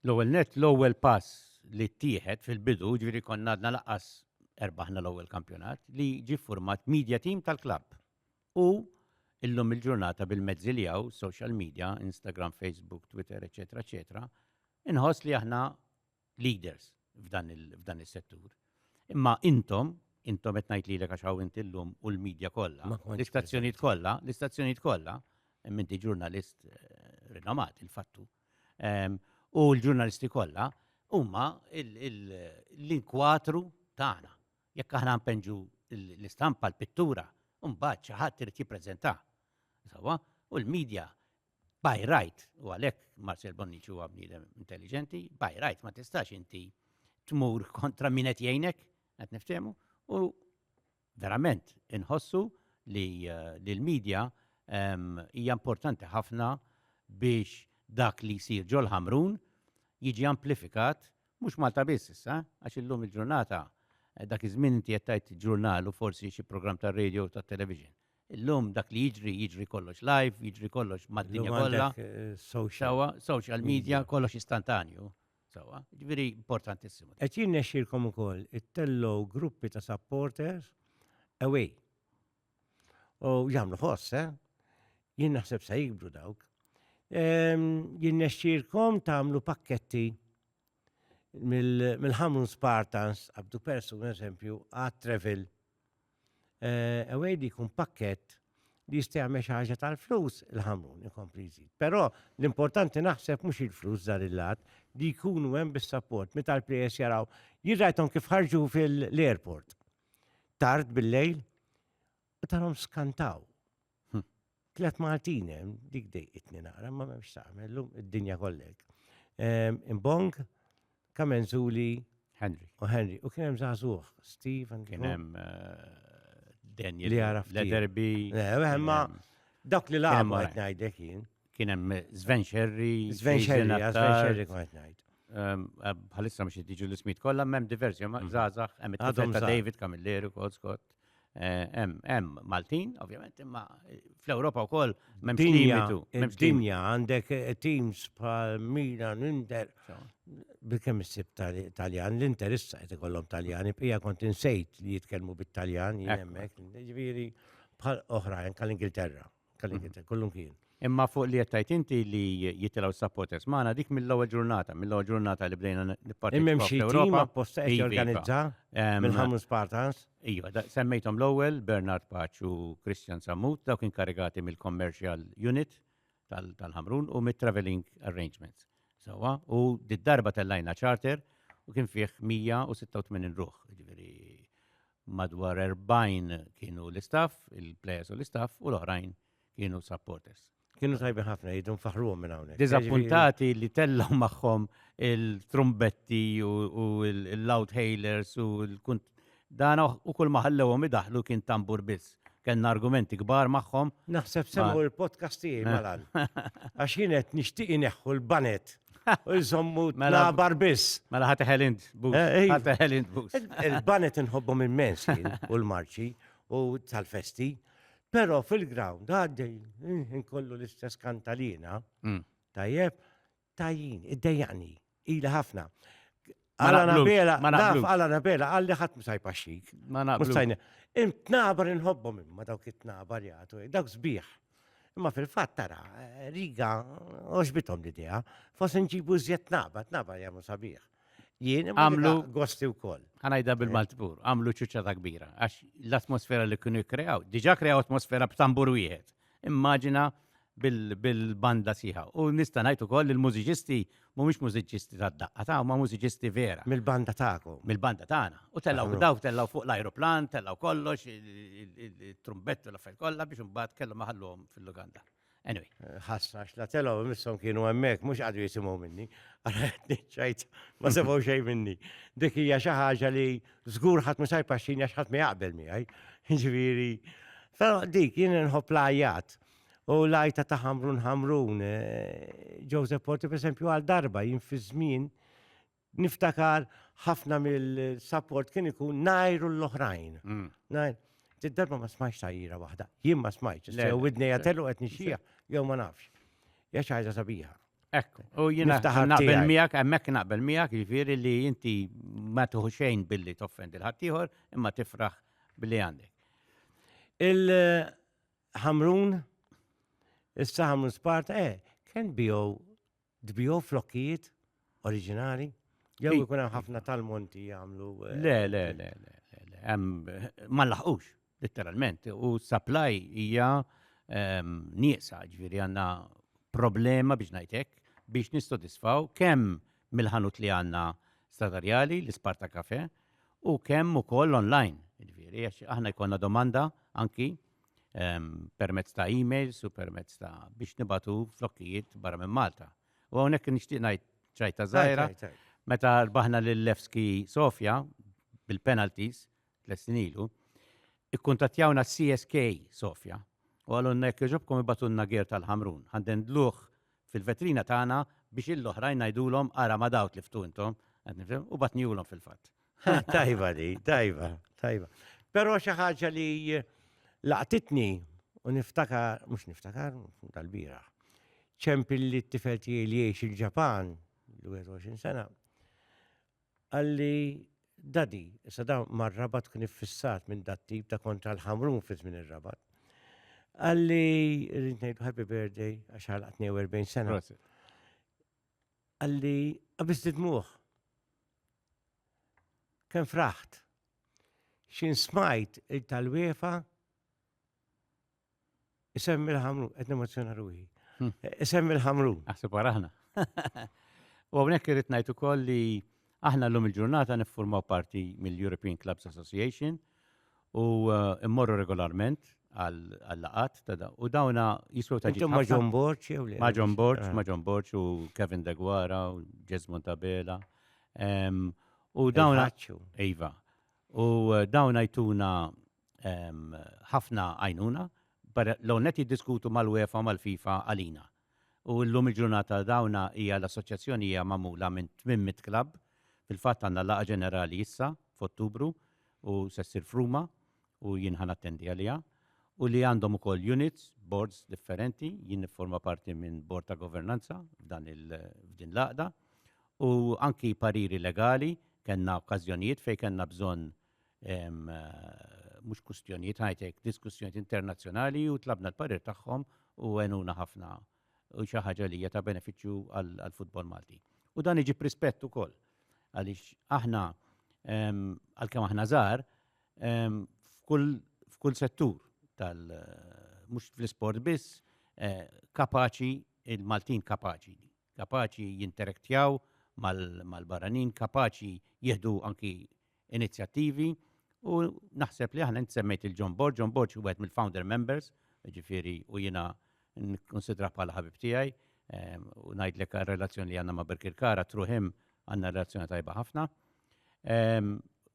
L-ewwel net, l-ewwel pass li ttieħed fil-bidu, ġifieri konna għadna laqas erbaħna l-ewwel kampjonat, li ġie ffurmat media team tal-klabb. U illum il-ġurnata bil-mezzi li hawn, social media, Instagram, Facebook, Twitter, eċetera, eċetera, inħoss li aħna leaders f'dan is-settur. Imma intom, intom qed ngħid lilek għax hawn inti llum u l-media kollha, l-istazzjonijiet kollha, l-istazzjonijiet kollha, minti ġurnalist eh, rinomat il-fattu. Ehm, u l-ġurnalisti kollha huma l-inkwatru tagħna. Jekk aħna npenġu l-istampa, l-pittura, mbagħad xi ħadd irid jippreżentah. Sewwa, u l-medja by right, u għalhekk Marcel Bonnici huwa bniedem intelligenti, by right ma tistax inti tmur kontra min qed jgħinek, qed niftehmu, u verament inħossu li eh, l-medja ehm, hija importanti ħafna biex dak li jsir ġol ħamrun jiġi amplifikat Mhux Malta biss issa, għax illum il-ġurnata, dak iż-żmien inti qed tgħid ġurnal u forsi xi programm tar-radio u tat-television. Illum dak li jiġri, jiġri kollox live, jiġri kollox mad-dinja kollha. Sewwa, social media, kollox istantanju. Sewwa, jiġifieri importantissimu. Qed jirnexxilkom ukoll ittellgħu gruppi ta' supporters away. U jagħmlu ħoss, eh? Jien naħseb se jikbru dawk. Ehm, jien nexxirkom tagħmlu pakketti mill-ħamrun Spartans, għabdu persu, per eżempju, għad travel. Ewejdi eh, kun pakket li jista' jagħmel xi ħaġa tal-flus il-ħamrun ikompli jżid. Però l-importanti naħseb mhux il-flus dan il-lat li jkunu hemm bis-sapport meta l-players jaraw jirrajthom kif ħarġu fil-airport. tard bil-lejl, u tarhom skantaw. Hm. Tlet Maltin hemm, dik dejqitni naqra, ma memx tagħmel, llum id-dinja kollek. Ehm, Imbong, Kamenzuli, Henry. U Henry, u kien hemm żagħżugħ, Steve and Kien hemm eh, Daniel. Li għaraf. Le derbi. Eh, ma dak li lagħbu qed ngħidlek jien. kien hemm Sven Xerri, Sven Xerri, Sven Xerri kont ngħid. Ehm, eh, bħalissa mhux jiġu l-ismit kollha m'hemm diversi ma żgħażagħ mhm. hemm ta' David Camilleri wkoll Scott. Eh, hemm hemm Maltin, ovvjament, imma eh, fl-Ewropa wkoll m'hemm limitu. Dinja għandek teams bħal Milan, Inter, bikem issib Taljan, l-Inter issa qed ikollhom Taljani, pija kont insejt li jitkellmu bit-Taljan jien hemmhekk, ġifieri bħal oħrajn tal-Ingilterra. Kalli mhm. kien, kullum kien. Imma fuq li jettajt inti li jitilaw supporters maħna dik mill-ewwel ġurnata, mill-ewwel ġurnata li bdejna nipparti. Immem xi tim apposta qed iva, iva. jorganizza mill-ħamu Spartans. Iva, semmejthom l-ewwel Bernard Paċ u Christian Sammut, dawk inkarigati mill-commercial unit tal-ħamrun u mit-traveling arrangements. Sawa, u d-darba tellajna charter u kien fih 186 ruħ, ġifieri Madwar 40 kienu l-istaff, il-players u l-istaff, u l-oħrajn kienu supporters. Kienu tajbi ħafna jidu nfaħruhom minn hawnhekk. Diżappuntati li tellgħu magħhom il-trumbetti u l-loud hailers u l-kunt. Dan u kull ma ħallewhom idaħlu kien tambur biss. Kenna argumenti kbar magħhom. Naħseb semmu l-podcast tiegħi malan. Għax jien qed nixtieq ineħħu l-banet U jżommu mela bar biss. Mela ħati ħelind bus. Eh, eh. Ħati ħelind bus. Il-banet nħobbhom immens u l-marċi u tal-festi. Pero fil-ground għaddej inkollu l-istess kantalina. Mm. Tajjeb, tajjin, id-dejjani, ila ħafna. Għala nabela, naf għala nabela, għalli ħat musajpa xik. Ma naqblux. Imtnabar inħobbom imma dawk it-tnabar jgħatu, dawk zbiħ. Imma fil-fat tara, eh, riga, oġbitom l-idea, fos nġibu zjed tnabar, tnabar jgħamu sabiħ. Jien għamlu gosti u koll. Għanajda eh. bil-maltbur, għamlu ċuċċata kbira, għax l-atmosfera li kienu kreaw, diġa kreaw atmosfera b'tambur wieħed. immaġina bil-banda siħa. U nista' ngħid ukoll li l-mużiċisti mhumiex mużiċisti tad-daqqa ta' ma mużiċisti vera. Mill-banda tagħkom. Mill-banda tagħna. U tellgħu dawk tellgħu fuq l-ajruplan, tellgħu kollox, it-trumbett u l-affarijiet kollha biex imbagħad kellhom ħalluhom fil-luganda. Anyway. Eh, ħassa, xla telaw, missom kienu emmek, mux għadu jisimaw minni. Għara ċajt, ma sebaw xej minni. Dik hija xi ħaġa li Żgur ħadd mhux jpaxxini għax ħadd ma jaqbel miegħi. Ġifieri, però dik jien nħobb l-għajjat. U l-għajta ta' Ħamrun Ħamrun, eh, Joseph Porti pereżempju għal darba jien fi żmien niftakar ħafna mill-support kien ikun najru l-oħrajn. Mm. Najr, darba ma smajx tajjira waħda, jien ma smajx, sew widnej għatellu qed nixxija, jew ma nafx. Jax ħaġa sabiħa. Ekk, u jina naqbel miegħek, hemmhekk naqbel miegħek, jiġifieri li inti ma tuħu xejn billi toffendi l-ħaddieħor imma tifraħ billi għandek. Il-ħamrun, issa ħamrun Sparta, eh, kien bijo dbijo flokkijiet oriġinali? Jew ikun hemm ħafna tal-monti jagħmlu. Eh, le, le, le, le, le, hemm ma laħqux. Litteralment, u supply hija ehm, nieqsa, ġifieri għandna problema biex ngħidlek biex nistodisfaw kemm mill-ħanut li għandna stadarjali, l-Isparta Cafe, u kemm ukoll online. Ġifieri għax aħna jkollna domanda anki ehm, permezz ta' emails u permezz ta' biex nibatu flokkijiet barra minn Malta. U hawnhekk nixtieq ngħid ċajta żgħira Tajt, tajt, tajt. meta rbaħna lil Levski Sofja bil-penalties tliet snin ilu, ikkuntattjawna CSK Sofja u għalunna jekk jogħġobkom ibatunna ger tal-ħamrun, ħandendluh fil-vetrina tagħna biex ill-oħrajn ngħidulhom ara ma' dawk li ftu intom, u batniehulhom fil-fatt. Tajba di, tajba, tajba. Però xi ħaġa li laqtitni u niftakar, mhux niftakar, tal-bira. ċempilli t-tifel tiegħi li jgħix il-Ġapan, l-21 sena, Qalli, Daddy, issa dan mar-Rabat kien iffissat minn dat-tip ta' kontra l-Ħamrun fi żmien ir-Rabat. Qalli, rrid ngħidu happy birthday għax għalaq 42 sena. Prosit. Qalli, qabis didmuh. Kemm fraħt. Xin smajt il-talwiefa Isemmi l-ħamru, qed nemozzjona ruħi. Hmm. Isemmi l-ħamru. Aħseb aħna. U hawnhekk irid ngħid ukoll li aħna llum il-ġurnata niffurmaw parti mill-European Clubs Association u uh, immorru regolarment għall-laqat ta' da. U dawna jiswew ta' ġimma. Ma' John Borċ, jew li. Ma' John Borċ, ah. ma' John Borċ u Kevin Degwara u Jesmond Tabela. U dawna. Iva. U uh, dawna jtuna ħafna għajnuna, l-ewwel nett jiddiskutu mal-UEFA u mal-FIFA għalina. U llum il-ġurnata dawna hija l-assoċjazzjoni hija magħmula minn 800 klabb, fil-fatt għandna laqgħa ġenerali issa f'Ottubru u se ssir f'Ruma u jien ħa nattendi għaliha, u li għandhom ukoll units, boards differenti, jien nifforma parti minn bord ta' governanza f'dan il f'din l-għaqda, u anki pariri legali, kellna okkażjonijiet fejn kellna bżonn mhux kwistjonijiet high-tech, diskussjonijiet internazzjonali u tlabna l-parir tagħhom u għenuna ħafna u xi ħaġa li hija ta' benefiċċju għall-futbol Malti. U dan iġib rispett ukoll għaliex aħna għalkemm aħna żgħar f'kull settur tal mhux fl-isport biss eh, kapaċi il-Maltin kapaċi kapaċi jinterektjaw mal-barranin, kapaċi jieħdu anki inizjattivi u naħseb li aħna int semmejt il-John Borg, John Borg huwa mill-founder members, ġifieri u jiena nkunsidra bħala ħabib tiegħi u ngħidlek relazzjoni li għandna ma' Birkirkara through him għandna relazzjoni tajba ħafna.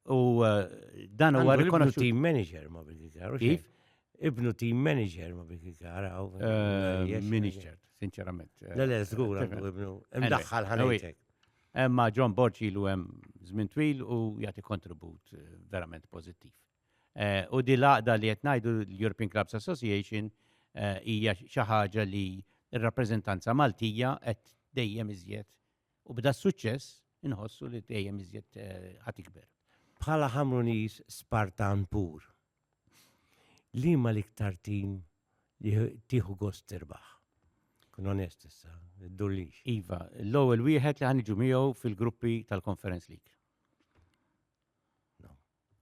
U eh, dan huwa rikonoxxut. Team manager ma bil-gikar. Kif? Ibnu team manager ma bil-gikar. Eh, Minister, sinċerament. Eh, le, le, zgur, ibnu. Imdaħħal ħanajtek. Emma John Borċi lu hemm żmien twil u jagħti kontribut verament pożittiv. U di laqda li qed ngħidu l-European Clubs Association hija xi ħaġa li r-rappreżentanza Maltija qed dejjem iżjed U b'da s-suċċess inħossu li dejjem iżjed ħa tikber. Bħala Ħamruniż Spartan pur, liema l-iktar tim li tieħu gost tirbaħ? Kun onest issa, id-durlix. Iva, l-ewwel wieħed li ħaniġu miegħu fil-gruppi tal-Conference League.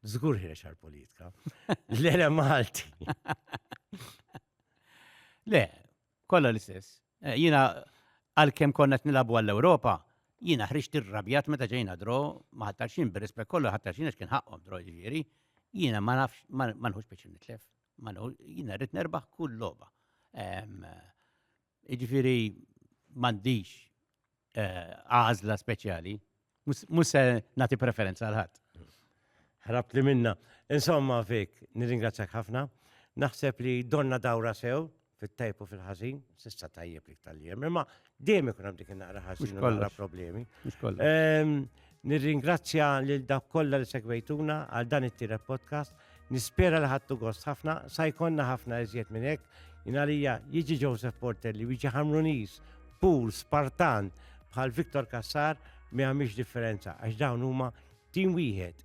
Zgur ħirex għal-politika. Le, le, Malti. Le, Kollha l-istess. Jiena għalkemm konna qed nilagħbu għall-Ewropa, jiena ħriġt irrabjat meta ġejna dro ma' ħattarxin bir-rispett kollu ħattarxin għax kien ħaqqhom dro jiġifieri, jiena ma nafx ma nħux biex nitlef. Jiena rrid nerbaħ kull logħba. Jiġifieri m'għandix eh, għażla speċjali, mhux se nagħti preferenza għal ħadd. Ħrabt li minna. Insomma, fik, nirringrazzjak ħafna. Naħseb li donna dawra sew fit-tajb u fil-ħażin, sissa tajjeb li tal-jem, imma dejjem ikun hemm dik naqra ħażin u naqra problemi. Ehm, Nirringrazzja lil dak kollha li segwejtuna għal dan it-tielet podcast. Nispera li ħadtu gost ħafna, sa jkollna ħafna iżjed minn hekk. Inalija jiġi Joseph Porter li jiġi Hamrunis, Pool, Spartan, bħal Viktor Kassar mi għamiex differenza għax dawn huma tim wieħed